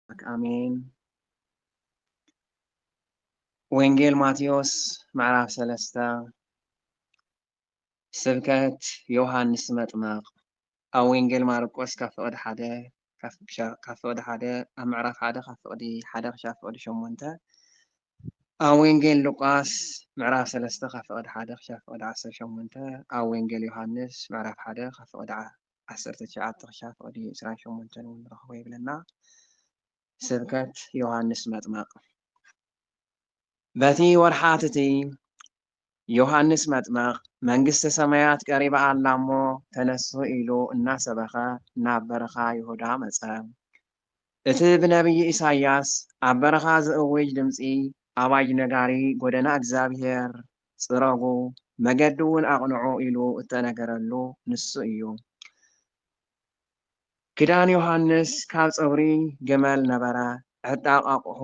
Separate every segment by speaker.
Speaker 1: ኣምላክ ኣሜን። ወንጌል ማቴዎስ ምዕራፍ ሰለስተ ስብከት ዮሃንስ መጥመቕ ኣብ ወንጌል ማርቆስ ካብ ፍቕዲ ሓደ ካብ ፍቕዲ ሓደ ኣብ ምዕራፍ ሓደ ካብ ፍቕዲ ሓደ ክሻብ ፍቕዲ ሸሞንተ ኣብ ወንጌል ሉቃስ ምዕራፍ ሰለስተ ካብ ፍቕዲ ሓደ ክሻብ ፍቕዲ ዓሰርተ ሸሞንተ ኣብ ወንጌል ዮሃንስ ምዕራፍ ሓደ ካብ ፍቕዲ ዓሰርተ ትሽዓተ ክሻ ፍቕዲ ዕስራን ሸሞንተን እውን ንረኽቦ ይብለና። ስብከት ዮሃንስ መጥመቕ በቲ ወርሓት እቲ ዮሃንስ መጥመቕ መንግስተ ሰማያት ቀሪባ ኣላ እሞ ተነሱ ኢሉ እናሰበኸ ናብ በረኻ ይሁዳ መፀ። እቲ ብነብዪ ኢሳይያስ ኣብ በረኻ ዝእውጅ ድምጺ ኣዋጅ ነጋሪ ጐደና እግዚኣብሄር ጽረጉ መገዲውን ኣቕንዑ ኢሉ እተነገረሉ ንሱ ኢዩ። ክዳን ዮሃንስ ካብ ጸጉሪ ግመል ነበረ፣ ዕጣቕ ኣቕሑ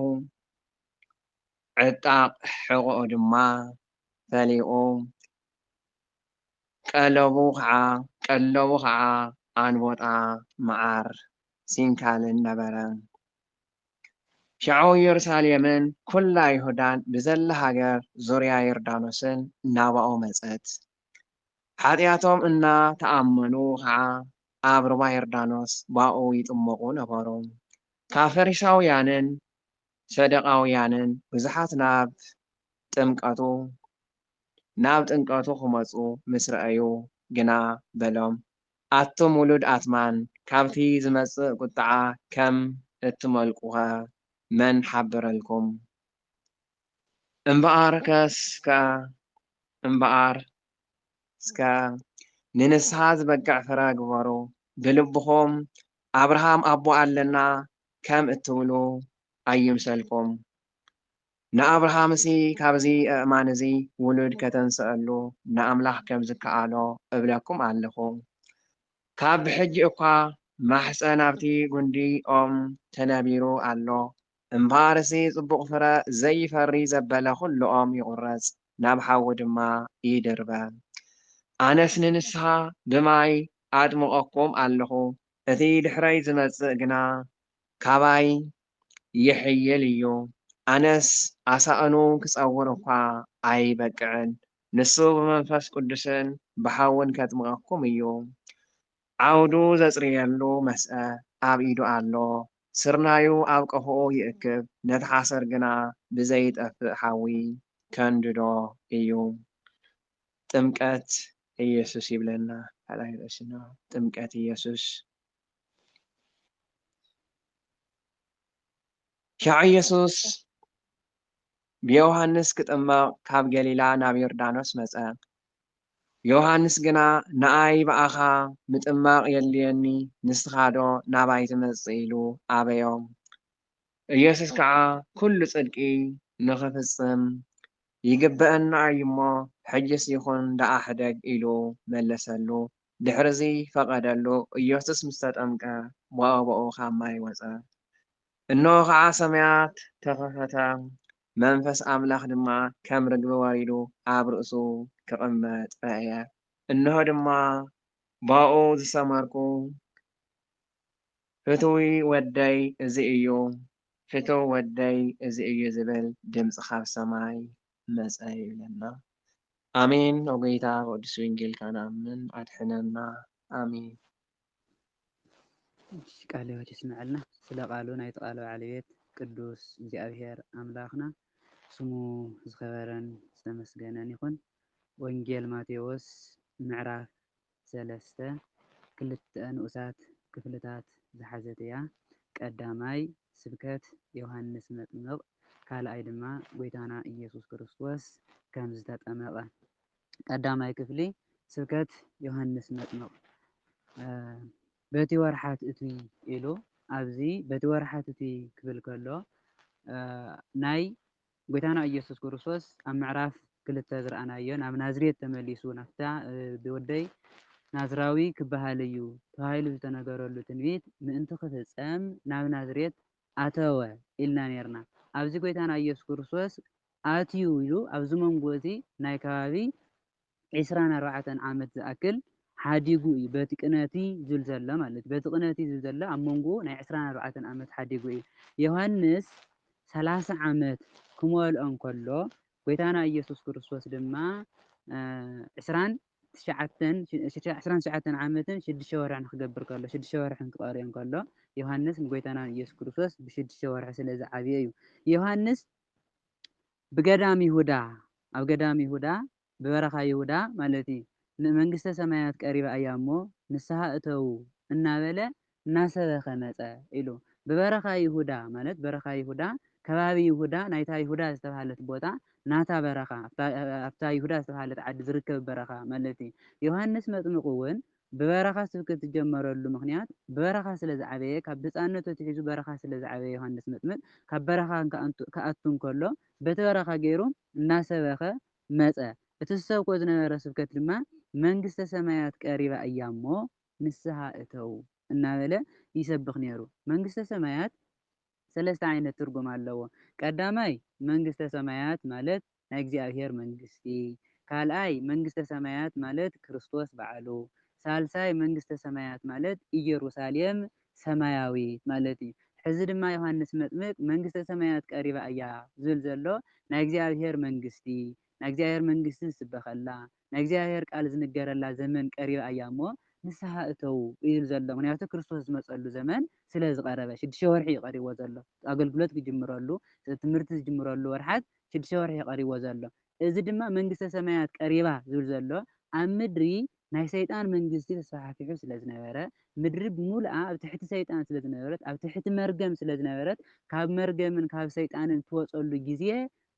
Speaker 1: ዕጣቕ ሕቖኡ ድማ ፈሊቑ ቀለቡ ኸዓ ቀለቡ ኸዓ ኣንቦጣ መዓር ሲንካልን ነበረ። ሸዑ ኢየሩሳሌምን ኵላ ይሁዳን ብዘላ ሃገር ዙርያ ዮርዳኖስን ናባኡ መጸት። ሓጢኣቶም እና ተኣመኑ ኸዓ ኣብ ሩባ ዮርዳኖስ ባኡ ይጥመቁ ነበሩ። ካብ ፈሪሳውያንን ሰደቓውያንን ብዙሓት ናብ ጥምቀቱ፣ ናብ ጥምቀቱ ኺመጹ ምስ ረኣዩ ግና በሎም፣ ኣቱም ውሉድ ኣትማን፣ ካብቲ ዚመጽእ ቍጥዓ ኸም እትመልቁኸ መን ሓበረልኩም? እምበኣርከስከ ንንስሓ ዚበቅዕ ፍረ ግበሩ፣ ብልብኹም፣ ኣብርሃም ኣቦ ኣለና ከም እትብሉ ኣይምሰልኩም። ንኣብርሃምሲ ካብዚ ኣእማን እዚ ውሉድ ከተንስኣሉ ንኣምላኽ ከም ዝከኣሎ እብለኩም ኣለኹ። ካብ ብሕጂ እኳ ማሕጸን ኣብቲ ጕንዲ ኦም ተነቢሩ ኣሎ። እምበኣርሲ ጽቡቕ ፍረ ዘይፈሪ ዘበለ ዅሉ ኦም ይቝረጽ፣ ናብ ሓዊ ድማ ይድርበ። ኣነስ ንንስሓ ብማይ ኣጥምቐኩም ኣለኹ፣ እቲ ድሕረይ ዝመጽእ ግና ካባይ ይሕይል እዩ። ኣነስ ኣሳእኑ ክጸውር እኳ ኣይበቅዕን፣ ንሱ ብመንፈስ ቅዱስን ብሓውን ኬጥምቐኩም እዩ። ዓውዱ ዘጽርየሉ መስአ ኣብ ኢዱ ኣሎ፣ ስርናዩ ኣብ ቀፎኡ ይእክብ፣ ነቲ ሓሰር ግና ብዘይጠፍእ ሓዊ ኬንድዶ እዩ። ጥምቀት ኢየሱስ ይብለና ካልኣይ ርእስና ጥምቀት ኢየሱስ ሻዕ ኢየሱስ ብዮሃንስ ክጥመቕ ካብ ገሊላ ናብ ዮርዳኖስ መጸ ዮሃንስ ግና ንኣይ ብኣኻ ምጥማቕ የድልየኒ ንስኻዶ ናባይ ትመጽእ ኢሉ ኣበዮ ኢየሱስ ከኣ ኩሉ ጽድቂ ንኽፍጽም ይግበኣኒ ኣዩ እሞ ሕጅስ ይኹን ደኣ ሕደግ ኢሉ መለሰሉ ድሕርዚ ፈቐደሉ ኢየሱስ ምስ ተጠምቀ ብኣቡኡ ካብ ማይ ወጸ እንሆ ከኣ ሰማያት ተኸፈታ መንፈስ ኣምላኽ ድማ ከም ርግቢ ወሪዱ ኣብ ርእሱ ክቕመጥ ረኣየ እንሆ ድማ ብኣኡ ዝሰመርኩ ፍትዊ ወደይ እዚ እዩ ፍትው ወደይ እዚ እዩ ዝብል ድምጺ ካብ ሰማይ መጸ ይብለና ኣሜን ኦጎይታ ብቅዱስ ወንጌልካ ንኣምን ኣድሕነና ኣሜን።
Speaker 2: እሺ ቃለ ህይወት የስመዐልና ስለ ቃሉ ናይቲ ቃለ በዓል ቤት ቅዱስ እግዚኣብሔር ኣምላክና ስሙ ዝከበረን ዝተመስገነን ይኩን ወንጌል ማቴዎስ ምዕራፍ ሰለስተ ክልተ ንኡሳት ክፍልታት ዝሓዘት እያ፣ ቀዳማይ ስብከት ዮሃንስ መጥምቕ፣ ካልኣይ ድማ ጐይታና ኢየሱስ ክርስቶስ ከም ዝተጠመቐ። ቀዳማይ ክፍሊ ስብከት ዮሃንስ መጥምቕ በቲ ወርሓ ትእቱይ ኢሉ፣ ኣብዚ በቲ ወርሓ ትእቱይ ክብል ከሎ ናይ ጎይታና ኢየሱስ ክርስቶስ ኣብ ምዕራፍ ክልተ ዝረኣናዮ ናብ ናዝሬት ተመሊሱ ናብታ ወደይ ናዝራዊ ክበሃል እዩ ተባሂሉ ዝተነገረሉ ትንቢት ምእንቲ ክፍጸም ናብ ናዝሬት ኣተወ ኢልና ኔርና። ኣብዚ ጎይታና ኢየሱስ ክርስቶስ ኣትዩ ኢሉ ኣብዚ መንጎ እዚ ናይ ከባቢ ዕስራን ኣርባዕተን ዓመት ዝኣክል ሓዲጉ እዩ በቲ ቅነቲ ዙል ዘሎ ማለት በቲ ቅነቲ ዙል ዘሎ ኣብ መንጎኡ ናይ ዕስራን ኣርባዕተን ዓመት ሓዲጉ እዩ ዮሐንስ ሰላሳ ዓመት ክመልኦ እንከሎ ጎይታና ኢየሱስ ክርስቶስ ድማ ዕስራን ትሽዓተን ዕስራን ትሽዓተን ዓመትን ሽዱሽተ ወርሕን ክገብር ከሎ ሽዱሽተ ወርሕን ክቐርዮ ከሎ ዮሃንስ ንጎይታና ኢየሱስ ክርስቶስ ብሽዱሽተ ወርሒ ስለ ዝዓብየ እዩ ዮሃንስ ብገዳም ይሁዳ ኣብ ገዳም ይሁዳ ብበረኻ ይሁዳ ማለት እዩ ን መንግስተ ሰማያት ቀሪባ እያ እሞ ንስሃ እተዉ እናበለ እናሰበኸ መጸ ኢሉ ብበረኻ ይሁዳ ማለት በረኻ ይሁዳ ከባቢ ይሁዳ ናይታ ይሁዳ ዝተብሃለት ቦታ ናታ በረኻ ኣብታ ይሁዳ ዝተብሃለት ዓዲ ዝርከብ በረኻ ማለት እዩ ዮሃንስ መጥምቅ ዉን ብበረኻ ስብከት ዝጀመረሉ ምኽንያት ብበረኻ ስለ ዝዓበየ ካብ ህጻንነቱ ኣትሒዙ በረኻ ስለ ዝዓበየ ዮሃንስ መጥምቅ ካብ በረኻ ክኣቱ እንከሎ በቲ በረኻ ገይሩ እናሰበኸ መጸ እቲ ዝሰብኮ ዝነበረ ስብከት ድማ መንግስተ ሰማያት ቀሪባ እያ እሞ ንስሃ እተዉ እናበለ ይሰብኽ ነይሩ መንግስተ ሰማያት ሰለስተ ዓይነት ትርጉም ኣለዎ። ቀዳማይ፣ መንግስተ ሰማያት ማለት ናይ እግዚኣብሔር መንግስቲ። ካልኣይ፣ መንግስተ ሰማያት ማለት ክርስቶስ ባዕሉ። ሳልሳይ፣ መንግስተ ሰማያት ማለት ኢየሩሳሌም ሰማያዊት ማለት እዩ። ሕዚ ድማ ዮሐንስ መጥምቅ መንግስተ ሰማያት ቀሪባ እያ ዝብል ዘሎ ናይ እግዚኣብሔር መንግስቲ ናይ እግዚኣብሔር መንግስቲ ዝስበኸላ፣ ናይ እግዚኣብሔር ቃል ዝንገረላ ዘመን ቀሪባ እያ እሞ ንስሓ እተዉ እዩ ዘሎ ምክንያቱ ክርስቶስ ዝመፀሉ ዘመን ስለ ዝቀረበ ሽድሽተ ወርሒ እዩ ቀሪብዎ ዘሎ ኣገልግሎት ክጅምረሉ ትምህርቲ ዝጅምረሉ ወርሓት ሽድሽተ ወርሒ እዩ ቀሪብዎ ዘሎ እዚ ድማ መንግስተ ሰማያት ቀሪባ ዝብል ዘሎ ኣብ ምድሪ ናይ ሰይጣን መንግስቲ ተስፋሕፊሑ ስለ ዝነበረ ምድሪ ብምሉኣ ኣብ ትሕቲ ሰይጣን ስለ ዝነበረት ኣብ ትሕቲ መርገም ስለ ዝነበረት ካብ መርገምን ካብ ሰይጣንን እትወፀሉ ግዜ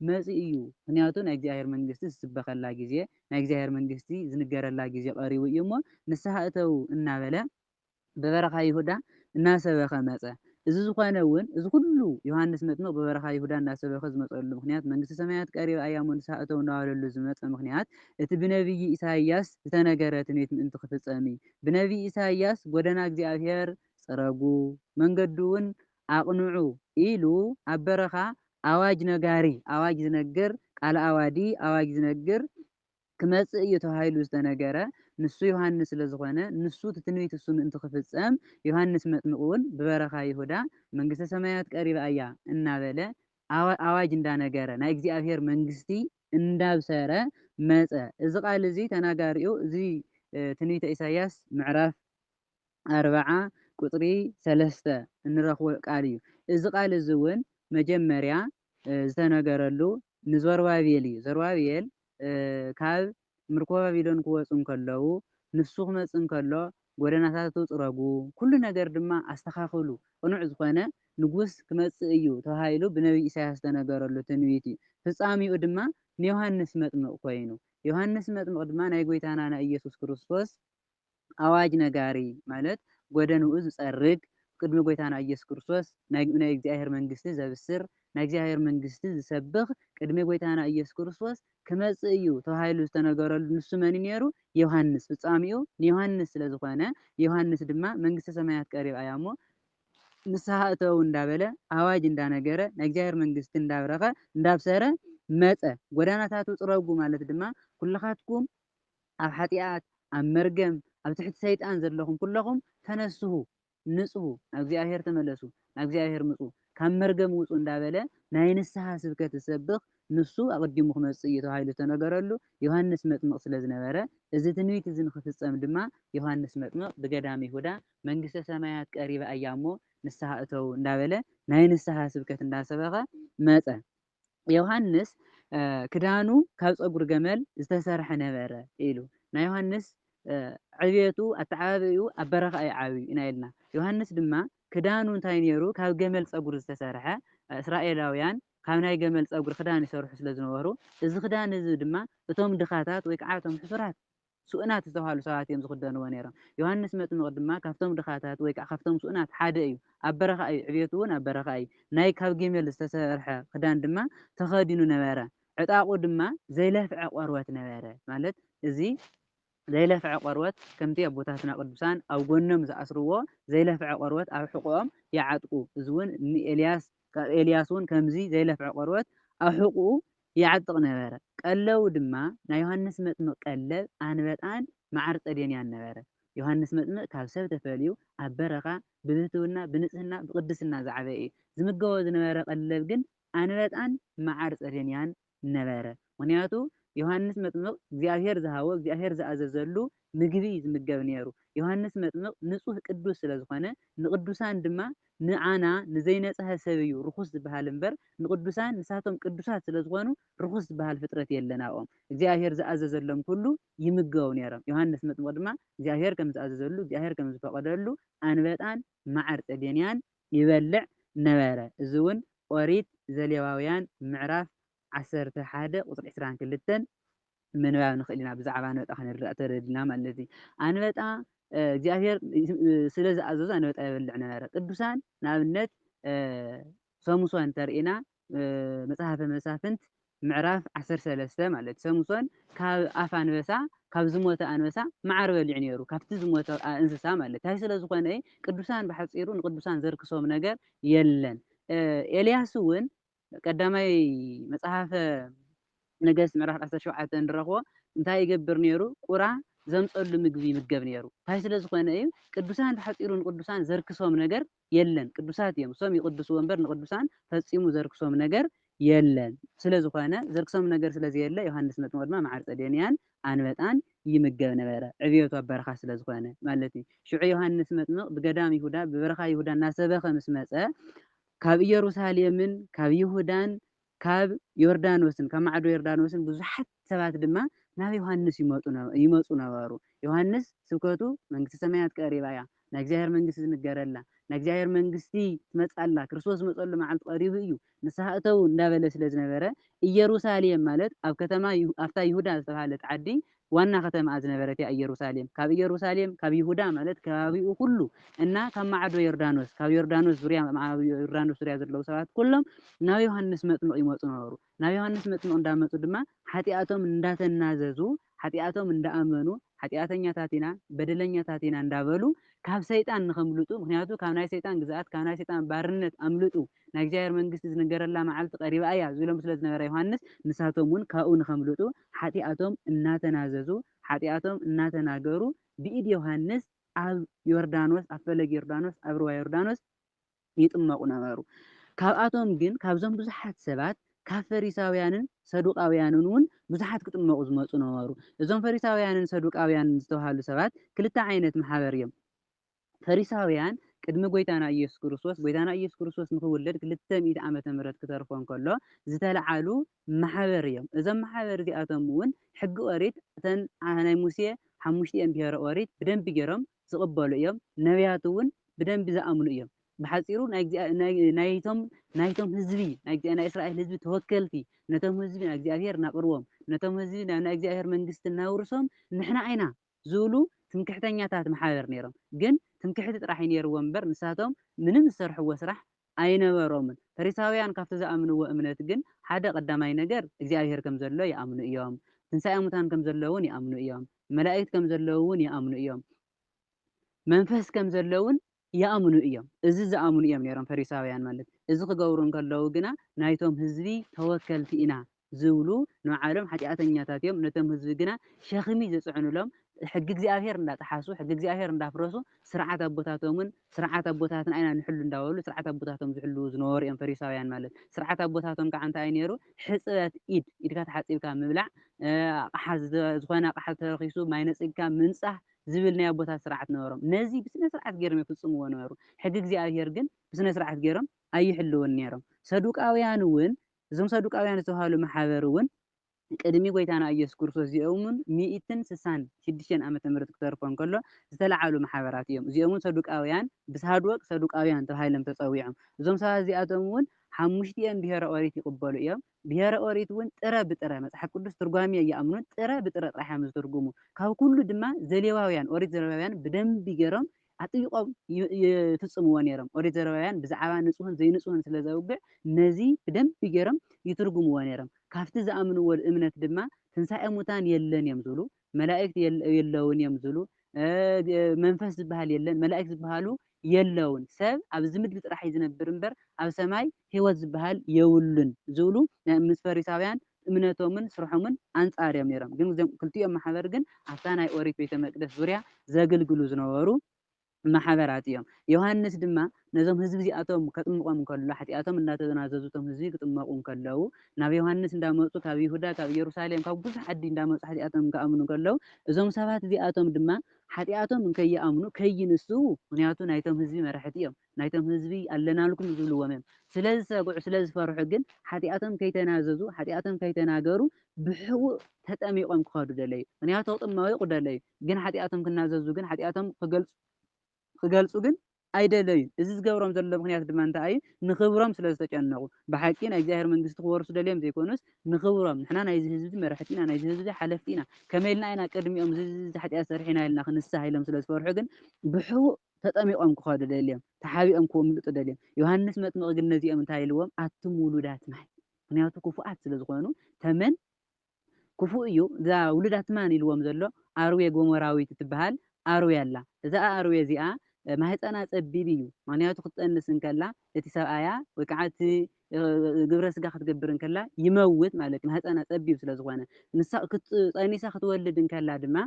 Speaker 2: መጺኡ እዩ ምክንያቱ ናይ እግዚኣብሔር መንግስቲ ዝስበከላ ግዜ ናይ እግዚኣብሔር መንግስቲ ዝንገረላ ግዜ ቀሪቡ እዩ እሞ ንስሓ እተዉ እናበለ ብበረካ ይሁዳ እናሰበከ መጸ እዚ ዝኮነ እዉን እዚ ኩሉ ዮሃንስ መጥምቅ ብበረካ ይሁዳ እናሰበከ ዝመጸሉ ምክንያት መንግስተ ሰማያት ቀሪባ እያ እሞ ንስሓ እተዉ እናበለሉ ዝመጸ ምክንያት እቲ ብነብዪ ኢሳይያስ ዝተነገረ ትንቢት ምእንቲ ክፍጸም እዩ ብነብዪ ኢሳይያስ ጎደና እግዚኣብሔር ጽረጉ መንገዱ እዉን ኣቕንዑ ኢሉ ኣብ በረኻ ኣዋጅ ነጋሪ፣ ኣዋጅ ዝነግር፣ ቃል ኣዋዲ፣ ኣዋጅ ዝነግር፣ ክመጽእ እዩ ተባሂሉ ዝተነገረ ንሱ ዮሃንስ ስለ ዝኾነ ንሱ እቲ ትንቢት እሱ ምእንቲ ክፍጸም ዮሃንስ መጥምቕውን ብበረኻ ይሁዳ መንግስተ ሰማያት ቀሪባ እያ እናበለ ኣዋጅ እንዳነገረ ናይ እግዚኣብሔር መንግስቲ እንዳብሰረ መጸ። እዚ ቃል እዚ ተናጋሪኡ እዚ ትንቢተ ኢሳይያስ ምዕራፍ ኣርብዓ ቍጽሪ ሰለስተ እንረኽቦ ቃል እዩ። እዚ ቃል እዚ እውን መጀመርያ ዝተነገረሉ ንዘሩባቤል እዩ። ዘሩባቤል ካብ ምርኮ ባቢሎን ክወጹ እንከለዉ፣ ንሱ ክመጽእ እንከሎ ጐደናታቱ ጽረጉ፣ ኵሉ ነገር ድማ ኣስተኻኽሉ፣ ቅኑዕ ዝዀነ ንጉስ ክመጽእ እዩ ተባሂሉ ብነብዪ ኢሳይያስ ዝተነገረሉ ትንቢት እዩ። ፍጻሜኡ ድማ ንዮሃንስ መጥምቕ ኰይኑ። ዮሃንስ መጥምቕ ድማ ናይ ጐይታና ናይ ኢየሱስ ክርስቶስ ኣዋጅ ነጋሪ ማለት ጐደንኡ ዝጸርግ፣ ቅድሚ ጐይታና ኢየሱስ ክርስቶስ ናይ እግዚኣብሔር መንግሥቲ ዘብስር፣ ናይ እግዚኣብሔር መንግሥቲ ዝሰብኽ ቅድሚ ጐይታና ኢየሱስ ክርስቶስ ክመጽእ እዩ ተባሂሉ ዝተነገረሉ ንሱ መን'ዩ ነይሩ? ዮሐንስ። ፍጻሜኡ ንዮሐንስ ስለ ዝኾነ ዮሐንስ ድማ መንግሥተ ሰማያት ቀሪባ እያ እሞ ንስሓ እተዉ እንዳበለ ኣዋጅ እንዳነገረ ናይ እግዚኣብሔር መንግሥቲ እንዳብረኸ እንዳብሰረ መጸ። ጐደናታቱ ጽረጉ ማለት ድማ ኵልኻትኩም ኣብ ሓጢኣት ኣብ መርገም ኣብ ትሕቲ ሰይጣን ዘለኹም ኩለኹም ተነስሁ ንጽሁ ናብ እግዚኣብሔር ተመለሱ ናብ እግዚኣብሔር ምጹ ካብ መርገም ውጹ እንዳበለ ናይ ንስሓ ስብከት ዝሰብኽ ንሱ ኣቐዲሙ ክመጽእ እዩ ተባሂሉ ዝተነገረሉ ዮሃንስ መጥምቕ ስለ ዝነበረ እዚ ትንቢት እዚ ንኽፍጸም ድማ ዮሃንስ መጥምቕ ብገዳም ይሁዳ መንግስተ ሰማያት ቀሪባ እያ እሞ ንስሓ እተዉ እንዳበለ ናይ ንስሓ ስብከት እንዳሰበኸ መጸ። ዮሃንስ ክዳኑ ካብ ጸጉሪ ገመል ዝተሰርሐ ነበረ ኢሉ ናይ ዮሃንስ ዕብየቱ ኣተዓባብይኡ ኣብ በረኻ እዩ ዓብዩ ኢና ኢልና ዮሃንስ ድማ ክዳኑ እንታይ ነይሩ ካብ ገመል ፀጉሪ ዝተሰርሐ እስራኤላውያን ካብ ናይ ገመል ፀጉሪ ክዳን ይሰርሑ ስለ ዝነበሩ እዚ ክዳን እዚ ድማ እቶም ድኻታት ወይ ከዓ እቶም ሕሱራት ስኡናት ዝተብሃሉ ሰባት እዮም ዝኽደንዎ ነይሮም። ዮሃንስ መጥምቕ ድማ ካብቶም ድኻታት ወይ ከዓ ካብቶም ስኡናት ሓደ እዩ። ኣብ በረኻ እዩ፣ ዕብየቱ እውን ኣብ በረኻ እዩ። ናይ ካብ ጊሜል ዝተሰርሐ ክዳን ድማ ተኸዲኑ ነበረ፣ ዕጣቑ ድማ ዘይለፍዐ ቆርበት ነበረ። ማለት እዚ ዘይለፍዐ ቆርበት ከምቲ ኣቦታትና ቅዱሳን ኣብ ጎኖም ዝኣስርዎ ዘይለፍዐ ቆርበት ኣብ ሕቖኦም ይዓጥቁ፣ እዚ እውን ንኤልያስ፣ ካብ ኤልያስ እውን ከምዚ ዘይለፍዐ ቆርበት ኣብ ሕቑኡ ይዓጥቕ ነበረ። ቀለቡ ድማ ናይ ዮሃንስ መጥምቕ ቀለብ ኣንበጣን መዓር ጸዴንያን ነበረ። ዮሃንስ መጥምቕ ካብ ሰብ ተፈልዩ ኣብ በረኻ ብብህትውና፣ ብንጽህና፣ ብቕድስና ዝዓበየ እዩ። ዝምገቦ ዝነበረ ቀለብ ግን ኣንበጣን መዓር ጸዴንያን ነበረ። ምኽንያቱ ዮሃንስ መጥምቕ እግዚኣብሔር ዝሃቦ፣ እግዚኣብሔር ዝኣዘዘሉ ምግቢ እዩ ዝምገብ ነይሩ። ዮሃንስ መጥምቕ ንጹህ ቅዱስ ስለ ዝኾነ ንቅዱሳን ድማ ንዓና ንዘይነጽሀ ሰብ እዩ ርኹስ ዝበሃል እምበር ንቅዱሳን ንሳቶም ቅዱሳት ስለ ዝኾኑ ርኹስ ዝበሃል ፍጥረት የለን ኣብኦም እግዚኣብሔር ዝኣዘዘሎም ኩሉ ይምገቡ ነይሮም ዮሃንስ መጥምቕ ድማ እግዚኣብሔር ከም ዝኣዘዘሉ እግዚኣብሔር ከም ዝፈቐደሉ ኣንበጣን መዓር ጸዴንያን ይበልዕ ነበረ እዚ እውን ኦሪት ዘሌዋውያን ምዕራፍ ዓሰርተ ሓደ ቁጽሪ ዕስራን ክልተን ምንባብ ንኽእል ኢና። ብዛዕባ ኣንበጣ ክንርዳእ ተደሊና ማለት እዩ። ኣንበጣ እግዚኣብሔር ስለ ዝኣዘዞ ኣንበጣ ይበልዕ ነበረ። ቅዱሳን ንኣብነት ሰሙሶን እንተርኢና መጽሓፈ መሳፍንት ምዕራፍ ዓሰርተ ሰለስተ ማለት እዩ ሰምሶን ካብ ኣፍ ኣንበሳ ካብ ዝሞተ ኣንበሳ መዓር በሊዑ ነይሩ ካብቲ ዝሞተ እንስሳ ማለት እንታይ ስለ ዝኾነ ቅዱሳን ብሓፂሩ ንቅዱሳን ዘርክሶም ነገር የለን ኤልያስ እውን ቀዳማይ መጽሓፈ ነገስት ምዕራፍ ዓሰርተ ሸውዓተ እንረኽቦ እንታይ ይገብር ነይሩ? ቁራ ዘምፀሉ ምግቢ ይምገብ ነይሩ። እንታይ ስለ ዝኾነ እዩ? ቅዱሳን ሓፂሩ ንቅዱሳን ዘርክሶም ነገር የለን። ቅዱሳት እዮም እሶም ይቅድስዎ እምበር ንቅዱሳን ፈፂሙ ዘርክሶም ነገር የለን። ስለ ዝኾነ ዘርክሶም ነገር ስለ ዘየለ ዮሃንስ መጥምቅ ድማ መዓር ጸዴንያን ኣንበጣን ይምገብ ነበረ። ዕብየቱ ኣብ በረኻ ስለ ዝኾነ ማለት እዩ። ሽዑ ዮሃንስ መጥምቅ ብገዳም ይሁዳ ብበረኻ ይሁዳ እናሰበኸ ምስ መጸ ካብ ኢየሩሳሌምን ካብ ይሁዳን ካብ ዮርዳኖስን፣ ካብ ማዕዶ ዮርዳኖስን፣ ብዙሓት ሰባት ድማ ናብ ዮሃንስ ይመጡ ነበ ይመጹ ነበሩ። ዮሃንስ ስብከቱ መንግስቲ ሰማያት ቀሪባ እያ፣ ናይ እግዚኣብሔር መንግስቲ ዝንገረላ፣ ናይ እግዚኣብሔር መንግስቲ ትመጽእ ኣላ፣ ክርስቶስ ዝመጸሉ መዓልቲ ቀሪቡ እዩ፣ ንስሓ እተዉ እንዳበለ ስለ ዝነበረ ኢየሩሳሌም ማለት ኣብ ከተማ ይሁ ኣብታ ይሁዳ ዝተባህለት ዓዲ ዋና ከተማኣ ዝነበረትያ ኢየሩሳሌም፣ ካብ ኢየሩሳሌም፣ ካብ ይሁዳ ማለት ከባቢኡ ዅሉ እና ካብ ማዕዶ ዮርዳኖስ፣ ካብ ዮርዳኖስ ዙርያ፣ ኣብ ዮርዳኖስ ዙርያ ዘለዉ ሰባት ኵሎም ናብ ዮሃንስ መጥምቕ ይመጹ ነበሩ። ናብ ዮሃንስ መጥምቕ እንዳ መጹ ድማ ሓጢኣቶም እንዳ ተናዘዙ፣ ሓጢኣቶም እንዳ ኣመኑ፣ ሓጢኣተኛታት ኢና፣ በደለኛታት ኢና እንዳ በሉ ካብ ሰይጣን ንኸምልጡ፣ ምኽንያቱ ካብ ናይ ሰይጣን ግዝኣት፣ ካብ ናይ ሰይጣን ባርነት ኣምልጡ፣ ናይ እግዚኣብሔር መንግሥቲ ዝንገረላ መዓልቲ ቀሪባ እያ ዝብሎም ስለ ዝነበረ ዮሐንስ ንሳቶም እውን ካብኡ ንከምልጡ ኃጢኣቶም እናተናዘዙ ኃጢኣቶም እናተናገሩ ብኢድ ዮሐንስ ኣብ ዮርዳኖስ ኣብ ፈለግ ዮርዳኖስ ኣብ ርዋ ዮርዳኖስ ይጥመቁ ነበሩ ካብኣቶም ግን ካብዞም ብዙኃት ሰባት ካብ ፈሪሳውያንን ሰዱቃውያንን እውን ብዙኃት ክጥመቁ ዝመጹ ነበሩ እዞም ፈሪሳውያንን ሰዱቃውያንን ዝተብሃሉ ሰባት ክልተ ዓይነት ማኅበር እዮም ፈሪሳውያን ቅድሚ ጎይታና ኢየሱስ ክርስቶስ ጎይታና ኢየሱስ ክርስቶስ ንኽውለድ ክልተ ሚእቲ ዓመተ ምህረት ክተርፎ እንከሎ ዝተልዓሉ ማሕበር እዮም። እዞም ማሕበር እዚኣቶም እውን ሕጊ ኦሪት እተን ናይ ሙሴ ሓሙሽቲኤን ብሄረ ኦሪት ብደንቢ ገይሮም ዝቕበሉ እዮም። ነብያት እውን ብደንቢ ዝኣምኑ እዮም። ብሓጺሩ ናይቶም ናይቶም ህዝቢ ናይ እስራኤል ህዝቢ ተወከልቲ ነቶም ህዝቢ ናይ እግዚኣብሔር ናቕርቦም ነቶም ህዝቢ ናይ እግዚኣብሔር መንግስቲ ናውርሶም ንሕና ኢና። ዝብሉ ትምክሕተኛታት መሓብር ነይሮም ግን ትምክሕቲ ጥራሕ እዩ ነይርዎም እምበር ንሳቶም ምንም ዝሰርሕዎ ስራሕ ኣይነበሮምን ፈሪሳውያን ካብቲ ዝኣምንዎ እምነት ግን ሓደ ቀዳማይ ነገር እግዚኣብሄር ከም ዘሎ ይኣምኑ እዮም ትንሳኤ ሙታን ከም ዘሎ ውን ይኣምኑ እዮም መላኢክት ከም ዘለዉ ውን ይኣምኑ እዮም መንፈስ ከም ዘሎ ውን ይኣምኑ እዮም። እዚ ዝኣምኑ እዮም ነይሮም ፈሪሳውያን ማለት እዚ ክገብሩ እንከለዉ ግና ናይቶም ህዝቢ ተወከልቲ ኢና ዝብሉ ንባዕሎም ሓጢኣተኛታት እዮም ነቶም ህዝቢ ግና ሸኽሚ ዝጽዕኑሎም ሕጊ እግዚኣብሄር እንዳጠሓሱ ሕጊ እግዚኣብሄር እንዳፍረሱ ስርዓት ኣቦታቶምን ስርዓት ኣቦታትና ኢና ንሕሉ እንዳበሉ ስርዓት ኣቦታቶም ዝሕልዉ ዝነበሩ እዮም ፈሪሳውያን ማለት ስርዓት ኣቦታቶም ካዓ እንታይ እዩ ነይሩ ሕጽበት ኢድ ኢድካ ተሓጺብካ ምብላዕ ኣቕሓ ዝኾነ ኣቕሓ ተረኺሱ ማይ ነጺግካ ምንጻህ ዚብል ናይ ኣቦታት ሥርዓት ነበሮም። ነዚ ብሥነ ሥርዓት ገይሮም የፍጽምዎ ነበሩ፣ ሕጊ እግዚኣብሔር ግን ብሥነ ሥርዓት ገይሮም ኣይሕልዉን ነይሮም። ሰዱቃውያንውን፣ እዞም ሰዱቃውያን ዝተብሃሉ መሓበርውን፣ ቅድሚ ጐይታና ኢየሱስ ክርስቶስ እዚኦምውን ሚእትን ስሳን ሽዱሽተን ዓመተ ምሕረት ክተርፎ እንከሎ ዝተለዓሉ መሓበራት እዮም። እዚኦምውን ሰዱቃውያን ብሳድወቅ ሰዱቃውያን ተባሂሎም ተጸዊዖም። እዞም ሰባት እዚኣቶምውን ሓሙሽቲኦም ብሔረ ኦሪት ይቕበሉ እዮም። ብሄረ ኦሪት እውን ጥረ ብጥረ መጽሓፍ ቅዱስ ትርጓሜ ኣይኣምኑን ጥረ ብጥረ ጥራሕ እዮም ዝትርጉሙ ካብ ኩሉ ድማ ዘሌዋውያን ኦሪት ዘሌዋውያን ብደንቢ ጌሮም ኣጥቢቆም ይፍጽምዎ ኔሮም ኦሪት ዘሌዋውያን ብዛዕባ ንጹህን ዘይንጹህን ስለ ዘውግዕ ነዚ ብደንቢ ጌሮም ይትርጉምዎ ኔሮም ካብቲ ዝኣምንዎ እምነት ድማ ትንሳኤ ሙታን የለን እዮም ዝብሉ መላእክት የለውን እዮም ዝብሉ መንፈስ ዝበሃል የለን መላእክት ዝበሃሉ የለውን ሰብ ኣብዚ ምድሪ ጥራሕ እዩ ዝነብር እምበር ኣብ ሰማይ ህይወት ዝበሃል የብሉን ዝብሉ ምስ ፈሪሳውያን እምነቶምን ስርሖምን ኣንጻር እዮም ነይሮም። ግን እዚኦም ክልቲኦም ማሕበር ግን ኣብታ ናይ ኦሪት ቤተ መቅደስ ዙርያ ዘግልግሉ ዝነበሩ ማሕበራት እዮም። ዮሃንስ ድማ ነዞም ህዝቢ እዚኣቶም ከጥምቖም እንከሎ ሓጢኣቶም እንዳተናዘዙ እቶም ህዝቢ ክጥመቑ እንከለዉ ናብ ዮሃንስ እንዳመጹ ካብ ይሁዳ ካብ ኢየሩሳሌም ካብ ብዙሕ ዓዲ እንዳመጹ ሓጢኣቶም ክኣምኑ እንከለዉ እዞም ሰባት እዚኣቶም ድማ ሓጢኣቶም እንከይኣምኑ ከይንስኡ ምኽንያቱ ናይቶም ህዝቢ መራሕቲ እዮም ናይቶም ህዝቢ ኣለናልኩም ዝብልዎም እዮም ስለዝሰግዑ ስለዝፈርሑ ግን ሓጢኣቶም ከይተናዘዙ ሓጢኣቶም ከይተናገሩ ብሕቡእ ተጠሚቖም ክኸዱ ደለዩ ምኽንያቱ ክጥመይቑ ደለዩ ግን ሓጢኣቶም ክናዘዙ ግን ሓጢኣቶም ኺገልጹ ግን ኣይደለዩን። እዚ ዚገብሮም ዘሎ ምኽንያት ድማ እንታይ እዩ? ንኽብሮም ስለ ዝተጨነቑ። ብሓቂ ናይ እግዚኣብሔር መንግስቲ ክወርሱ ደልዮም ዘይኮኑስ ንኽብሮም። ንሕና ናይዚ ህዝቢ መራሕቲ ኢና፣ ናይዚ ህዝቢ ሓለፍቲ ኢና፣ ከመይ ኢልና ኢና ቅድሚኦም እዚ እዚ ሓጢኣት ሰሪሕና ኢልና ክንስሓ ኢሎም ስለ ዝፈርሑ ግን ብሕቡእ ተጠሚቖም ክኸዱ ደልዮም፣ ተሓቢኦም ክምልጡ ደልዮም። ዮሃንስ መጥምቕ ግን ነዚኦም እንታይ ኢልዎም? ኣቱም ውሉዳት ማይ፣ ምኽንያቱ ክፉኣት ስለ ዝኾኑ ተመን ክፉእ እዩ እዛ ውሉዳት ማን ኢልዎም ዘሎ ኣርዌ ጎሞራዊት እትበሃል ኣርዌ ኣላ እዛ ኣርዌ እዚኣ ማህጸና ጸቢብ እዩ ምክንያቱ ክትጠንስ እንከላ እቲ ሰብኣያ ወይ ከዓ እቲ ግብረ ስጋ ክትገብር እንከላ ይመውት ማለት እዩ ማህጸና ጸቢብ ስለ ዝኾነ ንሳ ጸኒሳ ክትወልድ እንከላ ድማ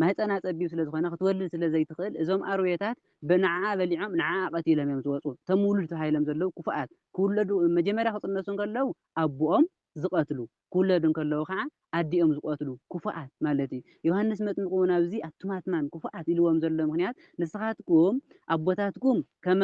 Speaker 2: ማህጸና ጸቢብ ስለ ዝኾነ ክትወልድ ስለ ዘይትኽእል እዞም ኣርዌታት ንዓኣ በሊዖም ንዓኣ ቀቲሎም እዮም ዝወጹ እቶም ውሉድ ተባሂሎም ዘለዉ ክፉኣት ክውለዱ መጀመርያ ክጥነሱ እንከለዉ ኣቡኦም ዝቐትሉ፣ ክውለዱ እንከለዉ ኸኣ ኣዲኦም ዝቐትሉ ክፉኣት ማለት እዩ። ዮሃንስ መጥምቕ እውን ኣብዚ ኣቱም ኣትማን ክፉኣት ኢልዎም ዘሎ ምኽንያት ንስኻትኩም ኣቦታትኩም ከም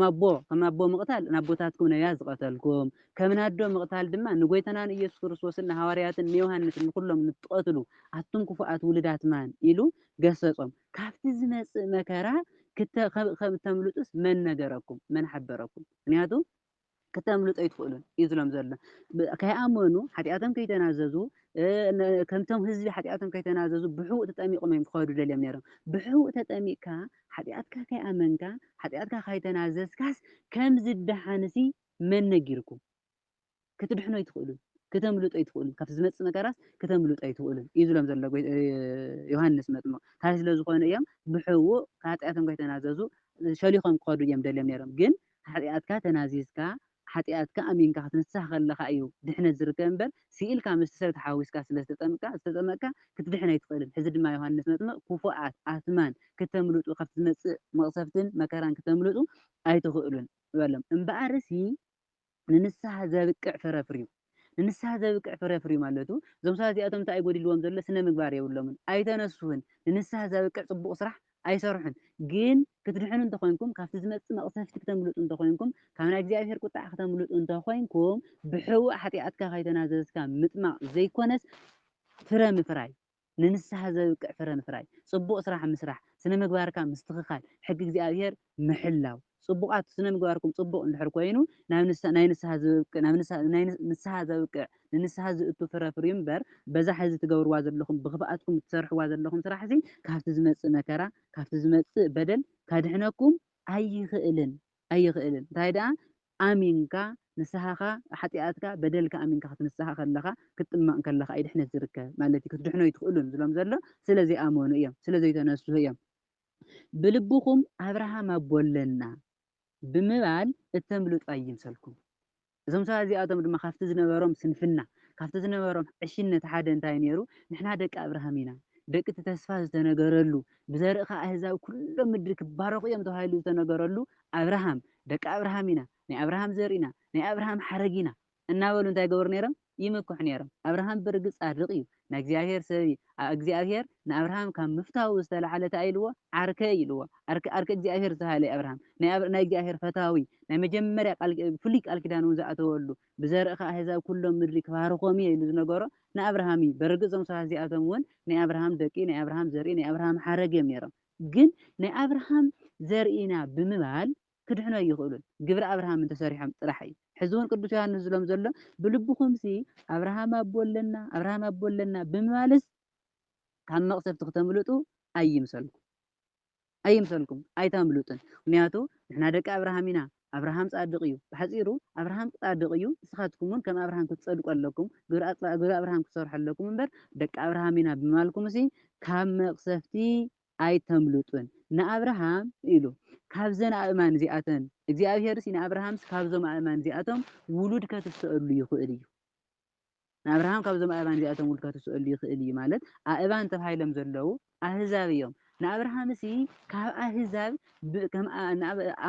Speaker 2: ኣቦ ከም ኣቦ ምቕታል ንኣቦታትኩም ነብያት ዝቐተልኩም ከም ናኣዶ ምቕታል ድማ ንጎይታና ንኢየሱስ ክርስቶስን ንሃዋርያትን ንዮሃንስን ንኹሎም ንትቐትሉ ኣቱም ክፉኣት ውሉድ ኣትማን ኢሉ ገሰጾም። ካብቲ ዝመጽእ መከራ ክተ ከም እተምልጡስ መን ነገረኩም? መን ሓበረኩም? ምኽንያቱ ክተምልጡ ኣይትኽእሉን እዩ ዝሎም ዘሎ ከይኣመኑ ሓጢኣቶም ከይተናዘዙ ከምቶም ህዝቢ ሓጢኣቶም ከይተናዘዙ ብሕውእ ተጠሚቖም እዮም ክኸዱ ደልዮም ነይሮም ብሕውእ ተጠሚቕካ ሓጢኣትካ ከይኣመንካ ሓጢኣትካ ከይተናዘዝካስ ከም ዝደሓንሲ መን ነጊርኩም ክትድሕኑ ኣይትኽእሉን ክተምልጡ ኣይትኽእሉን ካብቲ ዝመፅእ መከራስ ክተምልጡ ኣይትኽእሉን እዩ ዝሎም ዘሎ ዮሃንስ መጥምቕ እንታይ ስለ ዝኾኑ እዮም ብሕውእ ከኃጢኣቶም ከይተናዘዙ ሸሊኾም ክኸዱ እዮም ደልዮም ነይሮም ግን ሓጥያትካ ተናዚዝካ ሓጥያትካ ኣሚንካ ክትንሳህ ከለኻ እዩ ድሕነት ዝርከብ እምበር ሲኢልካ ምስቲ ሰብ ተሓዋዊስካ ስለ ዝተጠምቅካ ዝተጠመቅካ ክትድሕን ኣይትኽእልን ሕዚ ድማ ዮሃንስ መጥምቅ ኩፉኣት ኣትማን ክተምልጡ ካብቲ ዝመጽእ መቅሰፍትን መከራን ክተምልጡ ኣይትኽእሉን በሎም እምበኣርሲ ንንስሃ ዘብቅዕ ፍረ ኣፍርዩ። ንንስሃ ዘብቅዕ ፍረ ኣፍርዩ ማለቱ እዞም ሰባት እዚኣቶም እንታይ እዩ ጎዲልዎም ዘሎ ስነ ምግባር የብሎምን ኣይተነስሁን ንንስሃ ዘብቅዕ ጽቡቅ ስራሕ ኣይሰርሑን ግን ክትድሕኑ እንተኮይንኩም ካብቲ ዝመጽእ መቅሰፍቲ ክተምልጡ እንተኮይንኩም ካብ ናይ እግዚኣብሄር ቁጥዓ ክተምልጡ እንተኮይንኩም ብሕቡእ ሓጥያትካ ከይተናዘዝካ ምጥማቅ ዘይኮነስ ፍረ ምፍራይ ንንስሓ ዘብቅዕ ፍረ ምፍራይ፣ ጽቡቕ ስራሕ ምስራሕ፣ ስነ ምግባርካ ምስትኽኻል፣ ሕጊ እግዚኣብሄር ምሕላው። ጽቡቓት ስነ ምግባርኩም ጽቡቕ እንድሕር ኮይኑ ናብ ናይ ንስሓ ዝብቅ ናብ ንስሓ ዘብቅዕ ንንስሓ ዝእቱ ፍረ ፍርዩ እምበር በዛ ሕዚ ትገብርዋ ዘለኹም ብኽፍኣትኩም እትሰርሕዋ ዘለኹም ስራሕሲ ካብቲ ዝመጽእ መከራ ካብቲ ዝመጽእ በደል ከድሕነኩም ኣይኽእልን ኣይኽእልን እንታይ ደኣ ኣሚንካ ንስሃኻ ሓጥያትካ በደልካ ኣሚንካ ክትንስሃ ከለኻ ክትጥመቕ ከለኻ እዩ ድሕነት ዝርከብ ማለት እዩ ክትድሕኑ ኣይትኽእሉን ዝብሎም ዘሎ ስለ ዘይኣመኑ እዮም ስለ ዘይተነስሁ እዮም ብልብኹም ኣብርሃም ኣቦ ኣለና ብምባል እተምልጡ ኣይምሰልኩም እዞም ሰባት እዚኣቶም ድማ ካብቲ ዝነበሮም ስንፍና ካብቲ ዝነበሮም ዕሽነት ሓደ እንታይ ነይሩ ንሕና ደቂ ኣብርሃም ኢና ደቂ እቲ ተስፋ ዝተነገረሉ ብዘርእኻ ኣህዛብ ኩሎም ምድሪ ክባረኹ እዮም ተባሂሉ ዝተነገረሉ ኣብርሃም፣ ደቂ ኣብርሃም ኢና፣ ናይ ኣብርሃም ዘርኢ ኢና፣ ናይ ኣብርሃም ሓረግ ኢና እናበሉ እንታይ ይገብሩ ነይሮም? ይምክሑ ነይሮም። ኣብርሃም ብርግጽ ጻድቕ እዩ፣ ናይ እግዚኣብሔር ሰብ እዩ፣ ኣእ እግዚኣብሔር ንኣብርሃም ካብ ምፍታዉ ዝተላዕለ እንታይ ኢልዎ? ዓርከይ ኢልዎ። ዓርከይ፣ ዓርከይ እግዚኣብሔር ዝተባህለ እዩ ኣብርሃም። ናይ ናይ እግዚኣብሔር ፈታዊ፣ ናይ መጀመርያ ቃል፣ ፍሉይ ቃል ኪዳን እውን ዝኣተወሉ፣ ብዘርእኻ ኣህዛብ ኩሎም ምድሪ ክባርኾም እየ ኢሉ ዝነገሮ ንኣብርሃም እዩ። በርግጽ እዞም ሰባት እዚኣቶም እውን ናይ ኣብርሃም ደቂ፣ ናይ ኣብርሃም ዘርኢ፣ ናይ ኣብርሃም ሓረግ እዮም ነይሮም። ግን ናይ ኣብርሃም ዘርኢና ብምባል ክድሕኑ ኣይኽእሉን ግብሪ ኣብርሃም እንተሰሪሖም ጥራሕ እዩ ሕዚ ውን ቅዱስ ዮሃንስ ዝሎም ዘሎ ብልብኹምሲ ኣብርሃም ኣቦ ኣለና ኣብርሃም ኣቦ ኣለና ብምባልስ ካብ መቅሰፍቲ ክተምልጡ ኣይምሰልኩም ኣይምሰልኩም ኣይተምልጡን ምክንያቱ ንሕና ደቂ ኣብርሃም ኢና ኣብርሃም ጻድቕ እዩ። ብሓጺሩ ኣብርሃም ጻድቕ እዩ፣ ንስኻትኩምውን ከም ኣብርሃም ክትጸድቁ ኣለኩም፣ ግብሪ ኣጽባእ ግብሪ ኣብርሃም ክትሰርሑ ኣለኩም እምበር፣ ደቂ ኣብርሃም ኢና ብምባልኩምሲ ካብ መቕሰፍቲ ኣይተምልጡን። ንኣብርሃም ኢሉ ካብዘን ኣእማን እዚኣተን እግዚኣብሄርሲ ንኣብርሃምሲ ካብዞም ኣእማን እዚኣቶም ውሉድ ከትስእሉ ይኽእል እዩ። ንኣብርሃም ካብዞም ኣእባን እዚኣቶም ውልካ ትስእሉ ይክእል እዩ ማለት ኣእባን ተባሂሎም ዘለዉ ኣህዛብ እዮም ንኣብርሃምሲ ካብ ኣህዛብ ከም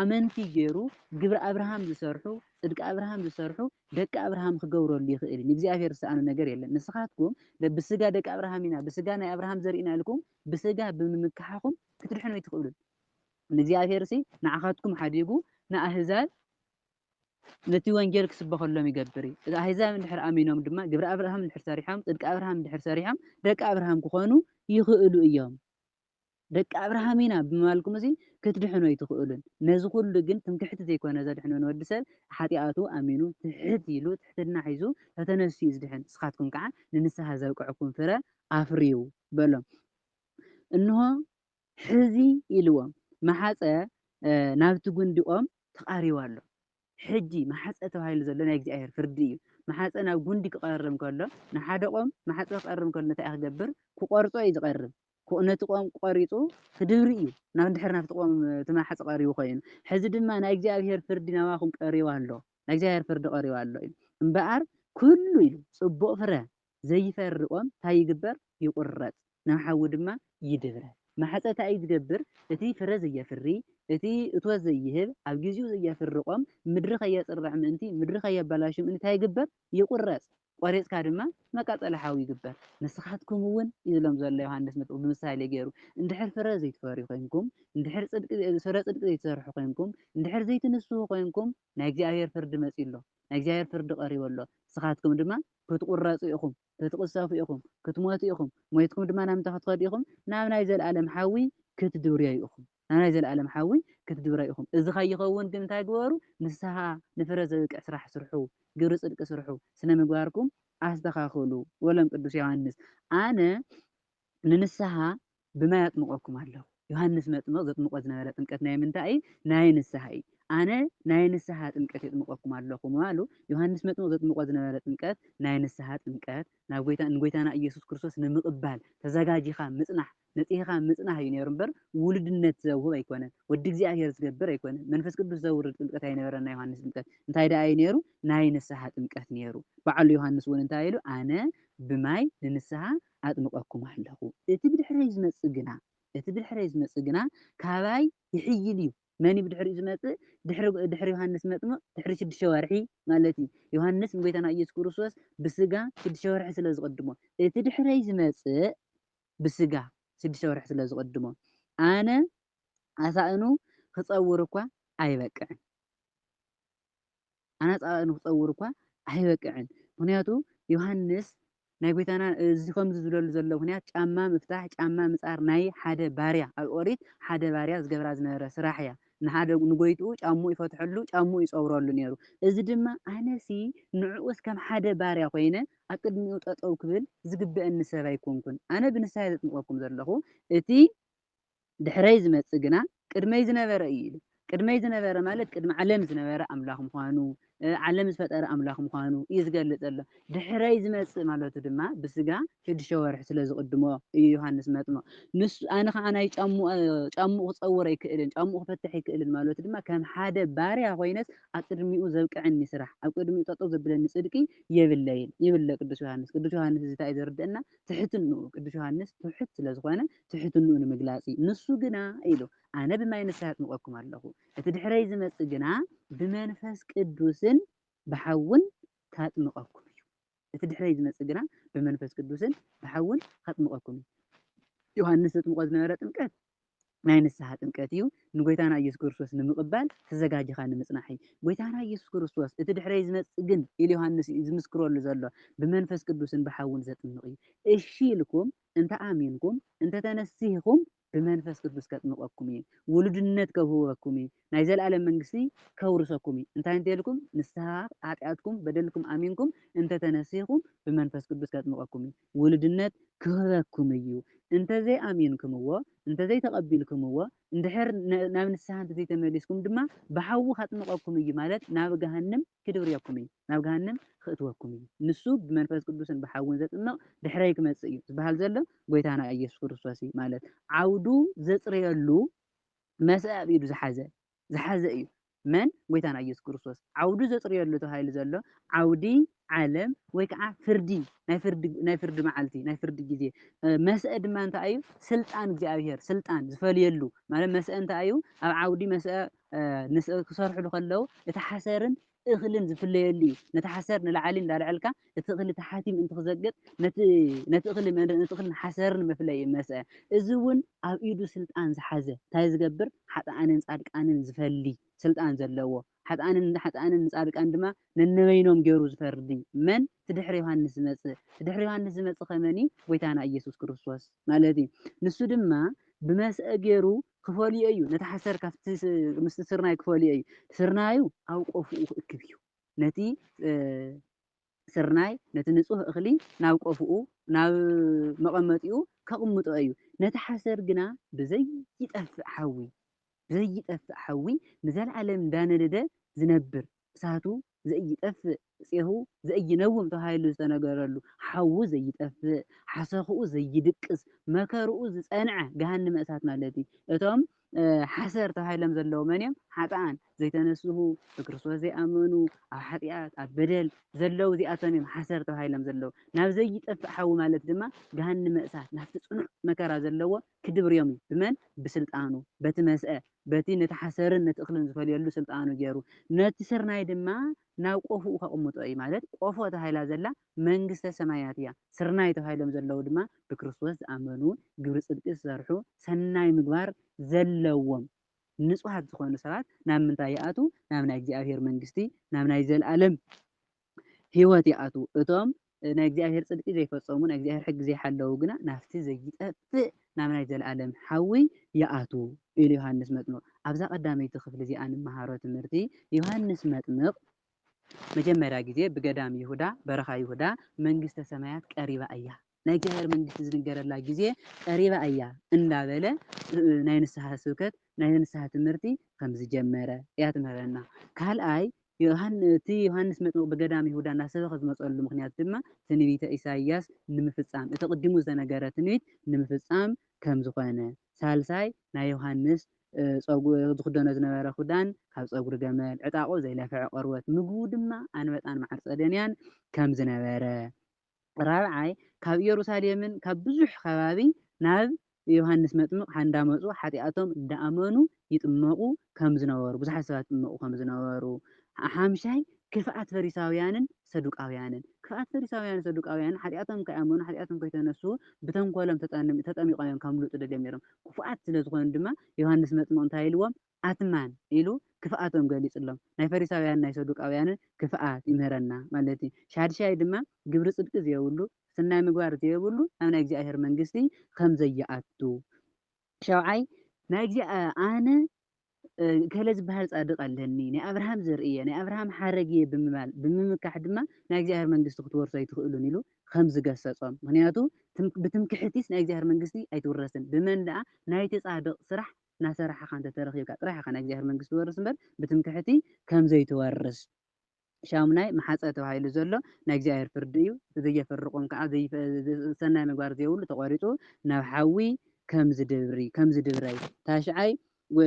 Speaker 2: ኣመንቲ ገይሩ ግብሪ ኣብርሃም ዝሰርሑ ጽድቂ ኣብርሃም ዝሰርሑ ደቂ ኣብርሃም ክገብረሉ ይክእል እዩ ንእግዚኣብሔር ዝሰኣኖ ነገር የለን ንስካትኩም ብስጋ ደቂ ኣብርሃም ኢና ብስጋ ናይ ኣብርሃም ዘርኢ ኢና ኢልኩም ብስጋ ብምምካሕኩም ክትድሕኑ ኣይትክእሉን ንእግዚኣብሔርሲ ንዓኻትኩም ሓዲጉ ንኣህዛብ ነቲ ወንጌል ክስበኸሎም ይገብር እዩ። እዛ ኣህዛብ እንድሕር ኣሚኖም ድማ ግብሪ ኣብርሃም እንድሕር ሰሪሖም ጽድቂ ኣብርሃም እንድሕር ሰሪሖም ደቂ ኣብርሃም ክኾኑ ይኽእሉ እዮም። ደቂ ኣብርሃም ኢና ብምባልኩም እዚ ክትድሕኑ ኣይትኽእሉን። ነዚ ኩሉ ግን ትምክሕቲ ዘይኮነ ዘድሕኖ ንወዲ ሰብ ሓጥያቱ ኣሚኑ ትሕት ኢሉ ትሕትና ሒዙ ተተነሲኡ እዩ ዝድሕን። ንስኻትኩም ከዓ ንንስሓ ዘብቅዕኩም ፍረ ኣፍርዩ በሎም። እንሆ ሕዚ ኢልዎም መሓጸ ናብቲ ጕንዲ ኦም ተቓሪቡ ኣሎ። ሕጂ መሓጸ ተባሂሉ ዘሎ ናይ እግዚኣብሄር ፍርዲ እዩ። መሓጸ ናብ ጕንዲ ክቐርብ ከሎ፣ ንሓደ ኦም መሓጸ ክቐርብ ከሎ እንታይ እዩ ክገብር? ክቈርጾ እዩ ዝቐርብ። ነቲ ኦም ቈሪጹ ክድብሪ እዩ፣ ናብ ድሕሪ ናብቲ ኦም እቲ መሓጸ ቀሪቡ ኰይኑ። ሕዚ ድማ ናይ እግዚኣብሄር ፍርዲ ናባኹም ቀሪቡ ኣሎ፣ ናይ እግዚኣብሄር ፍርዲ ቀሪቡ ኣሎ እዩ እምበኣር ኵሉ ኢሉ ጽቡቕ ፍረ ዘይፈር'ኦም ታይ ይግበር ይቁረጽ ናብ ሓዊ ድማ ይድብረ ማሕጸ ታይ ዝገብር እቲ ፍረ ዘየፍሪ እቲ እቶት ዘይህብ ኣብ ጊዚኡ ዘየፍር'ኦም ምድሪ ከየጽርዕ ምእንቲ ምድሪ ከየባላሹ ምእንቲ ታይ ይግበር ይቁረጽ ቆሪጽካ ድማ መቃጸሊ ሓዊ ይግበር ንስካትኩም'ውን እዩ ዝብሎም ዘሎ ዮሃንስ መጥምቅ ብምሳሌ ገይሩ እንድሕር ፍረ ዘይትፈርዩ ኮይንኩም እንድሕር ፍረ ጽድቂ ዘይትሰርሑ ኮይንኩም እንድሕር ዘይትንስሁ ኮይንኩም ናይ እግዚኣብሔር ፍርዲ መጺኡ ኣሎ ናይ እግዚኣብሔር ፍርዲ ቀሪቡ ኣሎ ንስካትኩም ድማ ክትቝረጹ ኢኹም፣ ክትቕሰፉ ኢኹም፣ ክትሞቱ ኢኹም፣ ሞይትኩም ድማ ናብ ምንታይ ክትኸዱ ኢኹም? ናብ ናይ ዘለኣለም ሓዊ ክትድብርዮዩ ኢኹም፣ ናብ ናይ ዘለኣለም ሓዊ ክትድብረዩ ኢኹም። እዚ ከይኸውን ግን እንታይ ግበሩ? ንስሓ፣ ንፍረ ዘብቅዕ ስራሕ ስርሑ፣ ግብሪ ጽድቂ ስርሑ፣ ስነ ምግባርኩም ኣስተኻኽሉ በሎም ቅዱስ ዮሃንስ። ኣነ ንንስሓ ብማይ ኣጥምቐኩም ኣለኹ። ዮሃንስ መጥምቕ ዘጥምቖ ዝነበረ ጥምቀት ናይ ምንታይ እዩ? ናይ ንስሓ እዩ። ኣነ ናይ ንስሓ ጥምቀት የጥምቐኩም ኣለኹ ምባሉ፣ ዮሃንስ መጥምቕ ዘጥምቖ ዝነበረ ጥምቀት ናይ ንስሓ ጥምቀት፣ ናብ ጐይታ ንጐይታና ኢየሱስ ክርስቶስ ንምቕባል ተዘጋጂኻ ምጽናሕ፣ ነጺህኻ ምጽናህ እዩ ነይሩ እምበር ውሉድነት ዘውህብ ኣይኮነን። ወዲ እግዚኣብሔር ዝገብር ኣይኮነን። መንፈስ ቅዱስ ዘውርድ ጥምቀት ኣይነበረን ናይ ዮሃንስ ጥምቀት። እንታይ ደኣ እዩ ነይሩ? ናይ ንስሓ ጥምቀት ነይሩ። በዓሉ ዮሃንስ እውን እንታይ ኢሉ? ኣነ ብማይ ንንስሓ ኣጥምቐኩም ኣለኹ፣ እቲ ብድሕረይ ዝመጽእ ግና፣ እቲ ብድሕረይ ዝመጽእ ግና ካባይ ይሕይል እዩ። መን እዩ ብድሕሪኡ ዝመጽእ? ድሕሪ፣ ድሕሪ ዮሃንስ መጥምቕ ድሕሪ ሽዱሽተ ወርሒ ማለት እዩ። ዮሃንስ ንጐይታና ኢየሱስ ክርስቶስ ብስጋ ሽዱሽተ ወርሒ ስለ ዝቕድሞ፣ እቲ ድሕረይ ዝመጽእ ብስጋ ሽዱሽተ ወርሒ ስለ ዝቕድሞ፣ ኣነ ኣሳእኑ ክጸውር እኳ ኣይበቅዕን። ኣናጻጻ ንክጸውር እኳ ኣይበቅዕን ምክንያቱ ዮሃንስ ናይ ጎይታና እዚ ከምዚ ዝብለሉ ዘሎ ምክንያት ጫማ ምፍታሕ ጫማ ምጻር ናይ ሓደ ባርያ ኣብ ኦሪት ሓደ ባርያ ዝገብራ ዝነበረ ስራሕ እያ ንሓደ ንጎይትኡ ጫምኡ ይፈትሐሉ ጫምኡ ይጸውረሉ ኔሩ እዚ ድማ ኣነሲ ንዕኡስ ከም ሓደ ባርያ ኮይነ ኣብ ቅድሚኡ ጠጠው ክብል ዝግበእኒ ሰብ ኣይኮንኩን ኣነ ብንስሓ እየ ዘጥምቀኩም ዘለኩ እቲ ድሕረይ ዝመጽእ ግና ቅድመይ ዝነበረ እዩ ኢሉ። ቅድመይ ዝነበረ ማለት ቅድሚ ዓለም ዝነበረ ኣምላኽ ምዃኑ፣ ዓለም ዝፈጠረ ኣምላኽ ምዃኑ እዩ ዝገልጽ ዘሎ። ድሕረይ ዝመጽእ ማለቱ ድማ ብስጋ ሽዱሽተ ወርሒ ስለ ዝቕድሞ እዩ ዮሃንስ መጥምቕ ንሱ ኣነ ኸኣ ናይ ጫምኡ ክጸውር ኣይክእልን፣ ጫምኡ ክፈትሕ ኣይክእልን ማለቱ ድማ ከም ሓደ ባርያ ኮይነስ ኣብ ቅድሚኡ ዘብቅዐኒ ስራሕ፣ ኣብ ቅድሚኡ ጠጠው ዘብለኒ ጽድቂ የብለይን ይብል ቅዱስ ዮሃንስ። ቅዱስ ዮሃንስ እዚ እንታይ እዩ ዘርድኣና ትሕትንኡ ቅዱስ ዮሃንስ ትሑት ስለ ዝኾነ ትሕትንኡ ንምግላጽ እዩ። ንሱ ግና ኢሉ ኣነ ብማይ ንስሓ ኣጥምቐኩም ኣለኹ፣ እቲ ድሕረይ ዝመጽእ ግና ብመንፈስ ቅዱስን ብሓውን ካጥምቐኩም እዩ። እቲ ድሕረይ ዝመጽእ ግና ብመንፈስ ቅዱስን ብሓውን ካጥምቐኩም እዩ። ዮሃንስ ዘጥምቆ ዝነበረ ጥምቀት ናይ ንስሓ ጥምቀት እዩ ንጎይታና ኢየሱስ ክርስቶስ ንምቕባል ተዘጋጅኻ ንምጽናሕ እዩ ጎይታና ኢየሱስ ክርስቶስ እቲ ድሕረይ ዝመጽእ ግን ኢሉ ዮሃንስ እዩ ዝምስክረሉ ዘሎ ብመንፈስ ቅዱስን ብሓውን ዘጥምቕ እዩ እሺ ኢልኩም እንተ ኣሚንኩም እንተ ተነሲህኩም ብመንፈስ ቅዱስ ከጥምቀኩም እየ ውሉድነት ከውህበኩም እየ ናይ ዘለኣለም መንግስቲ ከውርሰኩም እየ እንታይ እንተ ኢልኩም ንስሃ ሓጢኣትኩም በደልኩም ኣሚንኩም እንተ ተነሲህኩም ብመንፈስ ቅዱስ ከጥምቀኩም እየ ውሉድነት ክህበኩም እዩ እንተ ዘይኣሚንክምዎ እንተ ዘይተቐቢልክምዎ እንድሕር ናብ ንስሃ እንተ ዘይተመሊስኩም ድማ ብሓዊ ከጥምቀኩም እዩ ማለት ናብ ገሃንም ክድብርየኩም እዩ ናብ ገሃነም ኽእትወኩም እዩ ንሱ ብመንፈስ ቅዱስን ብሓውን ዘጥምቅ ድሕረይ ክመጽእ እዩ ዝብሃል ዘሎ ጎይታና እየሱስ ክርስቶስ እዩ ማለት ዓውዱ ዘጽርየሉ መስእ ኣብ ኢዱ ዝሓዘ ዝሓዘ እዩ መን ጎይታና እየሱስ ክርስቶስ ዓውዱ ዘጽርየሉ ተባሂሉ ዘሎ ዓውዲ ዓለም ወይ ከዓ ፍርዲ ናይ ፍርዲ ናይ ፍርዲ መዓልቲ ናይ ፍርዲ ግዜ መስእ ድማ እንታይ እዩ ስልጣን እግዚኣብሔር ስልጣን ዝፈልየሉ ማለት መስእ እንታይ እዩ ኣብ ዓውዲ መስእ ክሰርሕሉ ከለው እቲ ሓሰርን እኽልን ዝፍለየሉ እዩ። ነቲ ሓሰር ንላዕሊ እንዳልዐልካ እቲ እኽሊ ታሓቲ ምእንቲ ክዘግጥ ነቲ ነቲ እኽሊ ነቲ እኽልን ሓሰርን መፍለዪ መስዐ። እዚ እውን ኣብ ኢዱ ስልጣን ዝሓዘ ታይ ዝገብር ሓጥኣንን ፃድቃንን ዝፈሊ ስልጣን ዘለዎ ሓጥኣንን ንሓጥኣንን ንፃድቃን ድማ ነንበይኖም ገይሩ ዝፈርዲ መን እቲ ድሕሪ ዮሃንስ ዝመፅእ እቲ ድሕሪ ዮሃንስ ዝመፅእ ኸ መን እዩ ጎይታና ኢየሱስ ክርስቶስ ማለት እዩ ንሱ ድማ ብመስዐ ገይሩ ክፈልዮ እዩ፣ ነቲ ሓሰር ካብቲ ምስቲ ስርናይ ክፈልዮ እዩ፣ ስርናዩ ኣብ ቆፎኡ ክእክብ እዩ፣ ነቲ ስርናይ ነቲ ንጹህ እኽሊ ናብ ቆፎኡ ናብ መቐመጢኡ ከቕምጦ እዩ፣ ነቲ ሓሰር ግና ብዘይጠፍእ ሓዊ ብዘይጠፍእ ሓዊ ንዘለኣለም እንዳነደደ ዝነብር እሳቱ ዘኢይጠፍእ፣ ፄሁ ዘኢይነውም ተባሂሉ ዝተነገረሉ፣ ሓዉ ዘይጠፍእ፣ ሓሰኹኡ ዘይድቅስ፣ መከርኡ ዝፀንዐ ገሃነመ እሳት ማለት እዩ። እቶም ሓሰር ተባሂሎም ዘለዉ መን እዮም? ሓጥኣን፣ ዘይተነስሁ፣ ብክርስቶስ ዘይኣመኑ፣ ኣብ ሓጢኣት፣ ኣብ በደል ዘለዉ እዚኣቶም እዮም ሓሰር ተባሂሎም ዘለዉ። ናብ ዘይጠፍእ ሓዊ ማለት ድማ ገሃነመ እሳት ናብቲ ፅኑዕ መከራ ዘለዎ ክድብርዮም እዩ። ብመን? ብስልጣኑ፣ በቲ መስአ፣ በቲ ነቲ ሓሰርን ነቲ እኽልን ዝፈልየሉ ስልጣኑ ገይሩ፣ ነቲ ስርናይ ድማ ናብ ቆፎኡ ከቕምጦ እዩ፣ ማለት ቆፎ ተባሂላ ዘላ መንግስተ ሰማያት እያ፣ ስርናይ ተባሂሎም ዘለዉ ድማ ብክርስቶስ ዝኣመኑ፣ ግብሪ ጽድቂ ዝሰርሑ፣ ሰናይ ምግባር ዘለዎም ንጹሃት ዝኾኑ ሰባት፣ ናብ ምንታይ ይኣትዉ? ናብ ናይ እግዚኣብሔር መንግስቲ፣ ናብ ናይ ዘለዓለም ህይወት ይኣትዉ። እቶም ናይ እግዚኣብሄር ጽድቂ ዘይፈጸሙ፣ ናይ እግዚኣብሄር ሕጊ ዘይሓለዉ ግና ናብቲ ዘይጠፍእ ናብ ናይ ዘለኣለም ሓዊ ይኣትዉ ኢሉ ዮሃንስ መጥምቕ። ኣብዛ ቀዳመይቲ ክፍሊ እዚኣ እንመሃሮ ትምህርቲ፣ ዮሃንስ መጥምቕ ንመጀመርያ ግዜ ብገዳም ይሁዳ፣ በረኻ ይሁዳ፣ መንግስተ ሰማያት ቀሪባ እያ፣ ናይ እግዚኣብሔር መንግስቲ ዝንገረላ ጊዜ ቀሪባ እያ እንዳበለ ናይ ንስሓ ስብከት ናይ ንስሓ ትምህርቲ ከም ዝጀመረ እያ ትምህረና ካልኣይ እቲ ዮሃንስ መጥምቅ ብገዳም ይሁዳ እናሰበኸ ዝመፀሉ ምኽንያት ድማ ትንቢተ ኢሳይያስ ንምፍፃም እቲ ቅዲሙ ዝተነገረ ትንቢት ንምፍፃም ከም ዝኾነ ሳልሳይ ናይ ዮሃንስ ዝኽደኖ ዝነበረ ኹዳን ካብ ፀጉሪ ገመል ዕጣቁ ዘይለፈዐ ቆርበት ምግቡ ድማ ኣንበጣን መዓር ፀደንያን ከም ዝነበረ ራብዓይ ካብ ኢየሩሳሌምን ካብ ብዙኅ ከባቢ ናብ ዮሓንስ መጥምቕ ሓንዳመጹ ኃጢኣቶም እንዳኣመኑ ይጥመቑ ከምዝነበሩ ብዙኃት ሰባት ይጥመቑ ከምዝነበሩ ሓምሻይ ክፍኣት ፈሪሳውያንን ሰዱቃውያንን ክፍኣት ፈሪሳውያንን ሰዱቃውያንን ኃጢኣቶም ከይኣመኑ ኃጢኣቶም ከይተነሱ ብተንኮሎም ተጠሚቖም እዮም ከምሉጡ ደልዮም ነይሮም ክፉኣት ስለ ዝኾኑ ድማ ዮሓንስ መጥምቕ እንታይ ኢልዎም ኣትማን ኢሉ ክፍኣቶም ገሊጹሎም። ናይ ፈሪሳውያንን ናይ ሰዱቃውያንን ክፍኣት ይምህረና ማለት እዩ። ሻድሻይ ድማ ግብሪ ጽድቂ ዘየብሉ፣ ስናይ ምግባር ዘየብሉ ናብ ናይ እግዚኣብሔር መንግስቲ ከም ዘይኣቱ። ሻውዓይ። ናይ እግዚኣብሔር ኣነ እከለ ዝበሃል ጻድቅ ኣለኒ፣ ናይ ኣብርሃም ዘርኢ እየ፣ ናይ ኣብርሃም ሓረግ እየ ብምባል ብምምካሕ ድማ ናይ እግዚኣብሔር መንግስቲ ክትወርሱ ኣይትኽእሉን ኢሉ ከም ዝገሰጾም። ምኽንያቱ ብትምክሕቲስ ናይ እግዚኣብሔር መንግስቲ ኣይትውረስን ብመን ደኣ ናይቲ ጻድቅ ስራሕ እናሰራሕኻ እንተ ተረኺብካ ጥራሕ ኢኻ ናይ እግዚኣብሔር መንግስቲ ትወርስ እምበር ብትምክሕቲ ከም ዘይትወርስ። ሻሙናይ መሓጸ ተባሂሉ ዘሎ ናይ እግዚኣብሔር ፍርዲ እዩ። እቲ ዘየፍርቆም ከኣ ሰናይ ምግባር ዘየብሉ ተቆሪጹ ናብ ሓዊ ከም ዝድብሪ፣ ከም ዝድብረይ። ታሽዓይ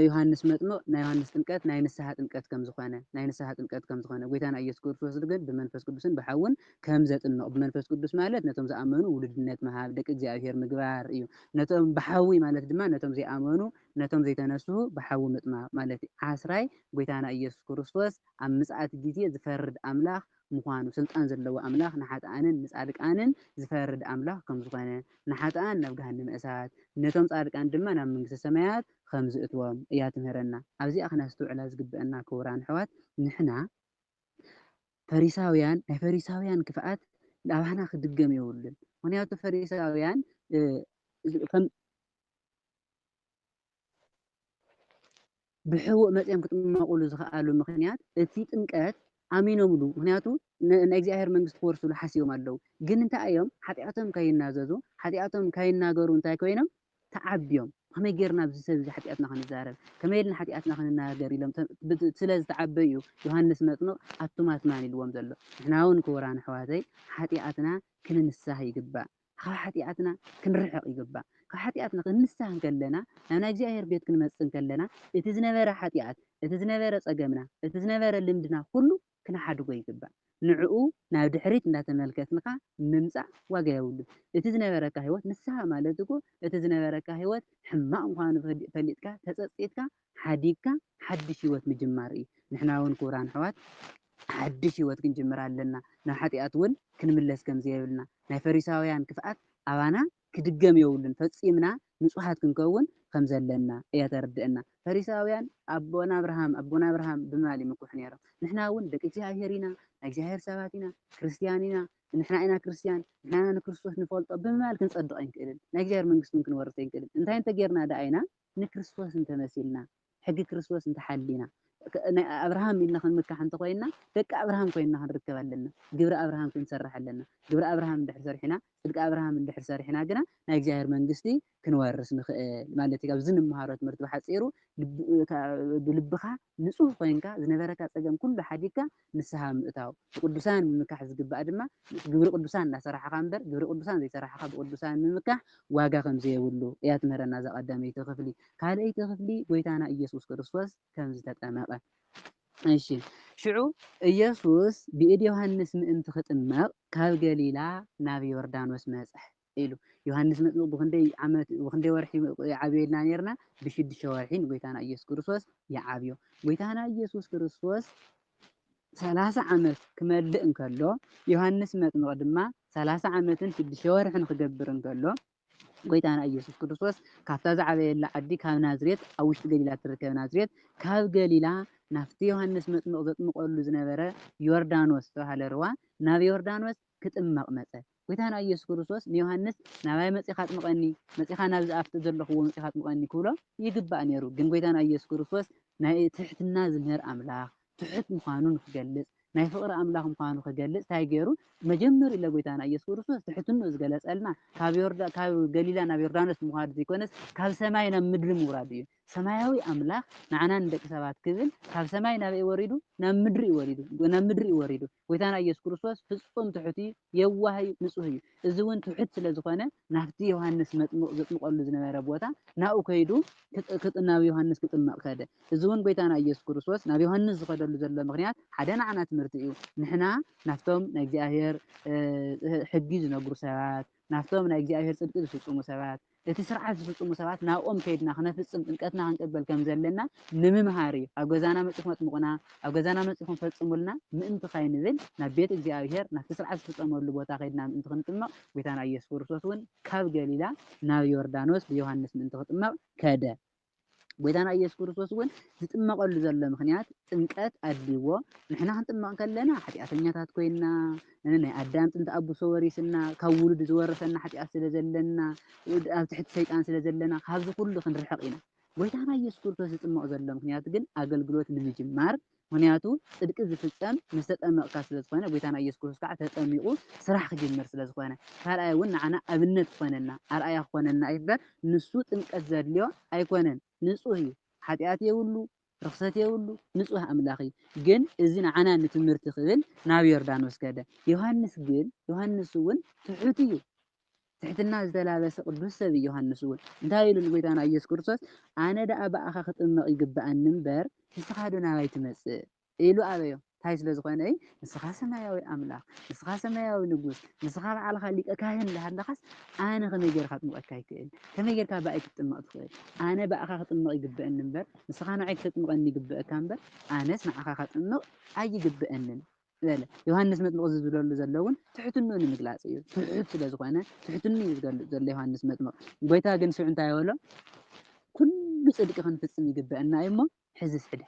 Speaker 2: ዮሃንስ መጥምቅ ናይ ዮሃንስ ጥምቀት ናይ ንስሓ ጥምቀት ከም ዝኾነ፣ ናይ ንስሓ ጥምቀት ከም ዝኾነ፣ ጎይታና ኢየሱስ ክርስቶስ ግን ብመንፈስ ቅዱስን ብሓውን ከም ዘጥምቕ ብመንፈስ ቅዱስ ማለት ነቶም ዝኣመኑ ውሉድነት ምሃብ ደቂ እግዚኣብሔር ምግባር እዩ ነቶም ብሓዊ ማለት ድማ ነቶም ዘይኣመኑ ነቶም ዘይተነስሁ ብሓዊ ምጥማቕ ማለት እዩ ዓስራይ ጎይታና ኢየሱስ ክርስቶስ ኣብ ምጽኣት ጊዜ ዝፈርድ ኣምላኽ ምዃኑ ስልጣን ዘለዎ ኣምላኽ ንሓጥኣንን ንጻድቃንን ዝፈርድ ኣምላኽ ከም ዝኾነ ንሓጥኣን ናብ ገሃነመ እሳት ነቶም ጻድቃን ድማ ናብ መንግስተ ሰማያት ከም ዝእትዎም እያ ትምህረና ኣብዚኣ ክነስተውዕላ ዝግበእና ክቡራን ኣሕዋት ንሕና ፈሪሳውያን ናይ ፈሪሳውያን ክፍኣት ኣባና ክድገም የብሉን ምክንያቱ ፈሪሳውያን ብሕቡእ መፅኦም ክጥመቁሉ ዝኽኣሉ ምክንያት እቲ ጥምቀት ኣሚኖምሉ ምክንያቱ ናይ እግዚኣብሔር መንግስቲ ክወርስሉ ሓሲቦም ኣለዉ ግን እንታይ እዮም ሓጢኣቶም ከይናዘዙ ሓጢኣቶም ከይናገሩ እንታይ ኮይኖም ተዓብዮም ብኸመይ ጌርና ኣብዚ ሰብ እዚ ሓጢኣትና ክንዛረብ፣ ከመይ ኢልና ሓጢኣትና ክንናገር ኢሎም ስለ ዝተዓበዩ እዩ ዮሃንስ መጥምቕ ኣቱም ኣትማን ኢልዎም ዘሎ። ንሕና እውን ክቡራን ኣሕዋተይ ሓጢኣትና ክንንሳህ ይግባእ፣ ካብ ሓጢኣትና ክንርሕቕ ይግባእ። ካብ ሓጢኣትና ክንንሳህ እንከለና ናብ ናይ እግዚኣብሔር ቤት ክንመጽእ እንከለና እቲ ዝነበረ ሓጢኣት፣ እቲ ዝነበረ ጸገምና፣ እቲ ዝነበረ ልምድና ኩሉ ክንሓድጎ ይግባእ። ንዕኡ ናብ ድሕሪት እንዳተመልከትንኻ ምምጻእ ዋጋ የብሉን። እቲ ዝነበረካ ህይወት ንስሓ ማለት እኮ እቲ ዝነበረካ ህይወት ሕማቕ ምዃኑ ፈሊጥካ ተጸጺትካ ሓዲግካ ሓድሽ ህይወት ምጅማር እዩ። ንሕና እውን ክቡራን ኣሕዋት ሓድሽ ህይወት ክንጅምር ኣለና። ናብ ሓጢኣት እውን ክንምለስ ከምዘይብልና ናይ ፈሪሳውያን ክፍኣት ኣባና ክድገም የብሉን ፈጺምና ንጹሃት ክንከውን ከም ዘለና እያ ተርድእና ፈሪሳውያን ኣቦና ኣብርሃም ኣቦና ኣብርሃም ብማል ይምኩሑ ነሮም ንሕና ውን ደቂ እግዚኣብሄር ኢና ናይ እግዚኣብሄር ሰባት ኢና ክርስትያን ኢና ንሕና ኢና ክርስትያን ንሕና ኢና ንክርስቶስ ንፈልጦ ብምባል ክንጸድቕ ኣይንክእልን ናይ እግዚኣብሄር መንግስቲ ውን ክንወርስ ኣይንክእልን እንታይ እንተጌርና ደኣ ኢና ንክርስቶስ እንተመሲልና ሕጊ ክርስቶስ እንተ ሓሊና፣ ናይ ኣብርሃም ኢልና ክንምካሕ እንተ ኾይንና፣ ደቂ ኣብርሃም ኮይንና ክንርከብ ኣለና። ግብሪ ኣብርሃም ክንሰርሕ ኣለና። ግብሪ ኣብርሃም እንድሕር ሰሪሕና፣ ጽድቂ ኣብርሃም እንድሕር ሰሪሕና ግና፣ ናይ እግዚኣብሔር መንግስቲ ክንወርስ ንኽእል ማለት እዩ። ካብዚ እንመሃሮ ትምህርቲ ብሓጺሩ፣ ብልብኻ ንጹህ ኮይንካ፣ ዝነበረካ ጸገም ኩሉ ሓዲግካ፣ ንስሃ ምእታው፣ ብቅዱሳን ምምካሕ ዝግባእ ድማ ምስ ግብሪ ቅዱሳን እናሰራሕኻ እምበር ግብሪ ቅዱሳን ዘይሰራሕኻ ብቅዱሳን ምምካሕ ዋጋ ከምዘየብሉ እያ ትምህረና እዛ ቀዳመይቲ ክፍሊ። ካልኣይቲ ክፍሊ ጎይታና ኢየሱስ ክርስቶስ ከምዝተጠመቀ እሺ ሽዑ ኢየሱስ ብኢድ ዮሐንስ ምእንቲ ክጥመቅ ካብ ገሊላ ናብ ዮርዳኖስ መጸ። ኢሉ። ዮሃንስ መጥምቅ ብኽንደይ ዓመት ብኽንደይ ወርሒ ይዓብየና ኔርና ብሽዱሽተ ወርሒ ንጎይታና ኢየሱስ ክርስቶስ ይዓብዮ ጎይታና ኢየሱስ ክርስቶስ ሰላሳ ዓመት ክመልእ እንከሎ ዮሃንስ መጥምቅ ድማ ሰላሳ ዓመትን ሽዱሽተ ወርሕን ክገብር እንከሎ ጎይታና ኢየሱስ ክርስቶስ ካብታ ዝዓበየላ ዓዲ ካብ ናዝሬት ኣብ ውሽጢ ገሊላ እትርከብ ናዝሬት ካብ ገሊላ ናብቲ ዮሃንስ መጥምቕ ዘጥምቐሉ ዝነበረ ዮርዳኖስ ዝተባህለ ርዋ ናብ ዮርዳኖስ ክጥመቕ መጸ። ጎይታና ኢየሱስ ክርስቶስ ንዮሃንስ ናባይ መጺኻ ኣጥምቐኒ፣ መጺኻ ናብዚ ኣብቲ ዘሎኹዎ መጺኻ ኣጥምቐኒ ክብሎ ይግባእ ነይሩ። ግን ጎይታና ኢየሱስ ክርስቶስ ናይ ትሕትና ዝምህር ኣምላኽ፣ ትሑት ምዃኑ ንክገልጽ፣ ናይ ፍቕሪ ኣምላኽ ምዃኑ ክገልጽ ታይ ገይሩ? መጀመሪኡ ለጎይታና ኢየሱስ ክርስቶስ ትሕትንኡ ዝገለጸልና ካብ ገሊላ ናብ ዮርዳኖስ ምዃድ ዘይኮነስ ካብ ሰማይ ናብ ምድሪ ምውራዱ እዩ። ሰማያዊ ኣምላኽ ንዓና ንደቂ ሰባት ክብል ካብ ሰማይ ናበይ ወሪዱ? ናብ ምድሪ እዩ ወሪዱ። ናብ ምድሪ እዩ ወሪዱ። ጎይታና ኢየሱስ ክርስቶስ ፍጹም ትሑት'ዩ፣ የዋህ'ዩ፣ ንጹህ'ዩ። እዚ'ውን ትሑት ስለ ዝኾነ ናብቲ ዮሃንስ መጥምቕ ዘጥምቐሉ ዝነበረ ቦታ ናብኡ ከይዱ ናብ ዮሃንስ ክጥመቕ ከደ። እዚ'ውን ጎይታና ኢየሱስ ክርስቶስ ናብ ዮሃንስ ዝኸደሉ ዘሎ ምኽንያት ሓደ ንዓና ትምህርቲ'ዩ። ንሕና ናብቶም ናይ እግዚኣብሔር ሕጊ ዝነግሩ ሰባት፣ ናብቶም ናይ እግዚኣብሔር ጽድቂ ዝፍጽሙ ሰባት፣ እቲ ሥርዓት ዝፍጽሙ ሰባት ናብኦም ከይድና ክነፍጽም ጥምቀትና ክንቅበል ከም ዘለና ንምምሃር እዩ። ኣብ ገዛና መጺኹም ኣጥምቑና፣ ኣብ ገዛና መጺኹም ፈጽሙልና ምእንቲ ካይንብል ናብ ቤት እግዚኣብሔር ናብቲ ሥርዓት ዝፍጸመሉ ቦታ ከይድና ምእንቲ ክንጥመቕ ጐይታና ኢየሱስ ክርስቶስ'ውን ካብ ገሊላ ናብ ዮርዳኖስ ብዮሐንስ ምእንቲ ክጥመቕ ከደ። ጎይታና ኢየሱስ ክርስቶስ እውን ዝጥመቐሉ ዘሎ ምኽንያት ጥምቀት ኣድልይዎ ንሕና ክንጥመቕ ከለና ሓጢኣተኛታት ኮይና ናይ ኣዳም ጥንቲ ኣቡሶ ወሪስና ካብ ውሉድ ዝወረሰና ሓጢኣት ስለ ዘለና ኣብ ትሕቲ ሰይጣን ስለ ዘለና ካብዚ ኩሉ ክንርሕቕ ኢና ጎይታና ኢየሱስ ክርስቶስ ዝጥመቕ ዘሎ ምክንያት ግን ኣገልግሎት ንምጅማር ምኽንያቱ ጽድቂ ዝፍጸም ምስ ተጠመቕካ ስለ ዝኾነ፣ ጎይታና ኢየሱስ ክርስቶስ ከኣ ተጠሚቑ ስራሕ ክጅምር ስለ ዝኾነ። ካልኣይ እውን ንዓና ኣብነት ክኾነና፣ ኣርኣያ ክኾነና እዩ እምበር ንሱ ጥምቀት ዘድልዮ ኣይኮነን። ንጹህ እዩ። ሓጢኣት የብሉ፣ ርኽሰት የብሉ፣ ንጹህ ኣምላኽ እዩ። ግን እዚ ንዓና ንትምህርቲ ክብል ናብ ዮርዳኖስ ከደ። ዮሃንስ ግን፣ ዮሃንስ እውን ትሑት እዩ። ትሕትና ዝተላበሰ ቅዱስ ሰብ ዮሃንስ እውን እንታይ ኢሉ ንጎይታና ኢየሱስ ክርስቶስ ኣነ ደኣ ብኣኻ ክጥመቕ ይግብኣኒ እምበር ንስኻዶ ናባይ ትመጽእ ኢሉ ኣበዮ እንታይ ስለ ዝኾነ እዩ ንስኻ ሰማያዊ ኣምላኽ ንስኻ ሰማያዊ ንጉስ ንስኻ በዓልኻ ሊቀ ካህን እንዳሃለኻስ ኣነ ከመይ ጌርካ ክጥምቐካ ይክእል ከመይ ጌርካ ብኣይ ክትጥመቕ ትኽእል ኣነ ብኣኻ ክጥመቕ ይግብኣኒ እምበር ንስኻ ንዓይ ክተጥምቐኒ ይግብኣካ እምበር ኣነስ ንዓኻ ከጥምቕ ኣይግብኣንን በለ። ዮሃንስ መጥምቕ እዚ ዝብለሉ ዘሎ እውን ትሕትንኡ ንምግላጽ እዩ። ትሑት ስለ ዝኾነ ትሕትንኡ እዩ ዝገልጽ ዘሎ ዮሃንስ መጥምቕ። ጎይታ ግን ሽዑ እንታይ በሎ? ኩሉ ጽድቂ ክንፍጽም ይግበእና እዩ እሞ ሕዝስ ሕደ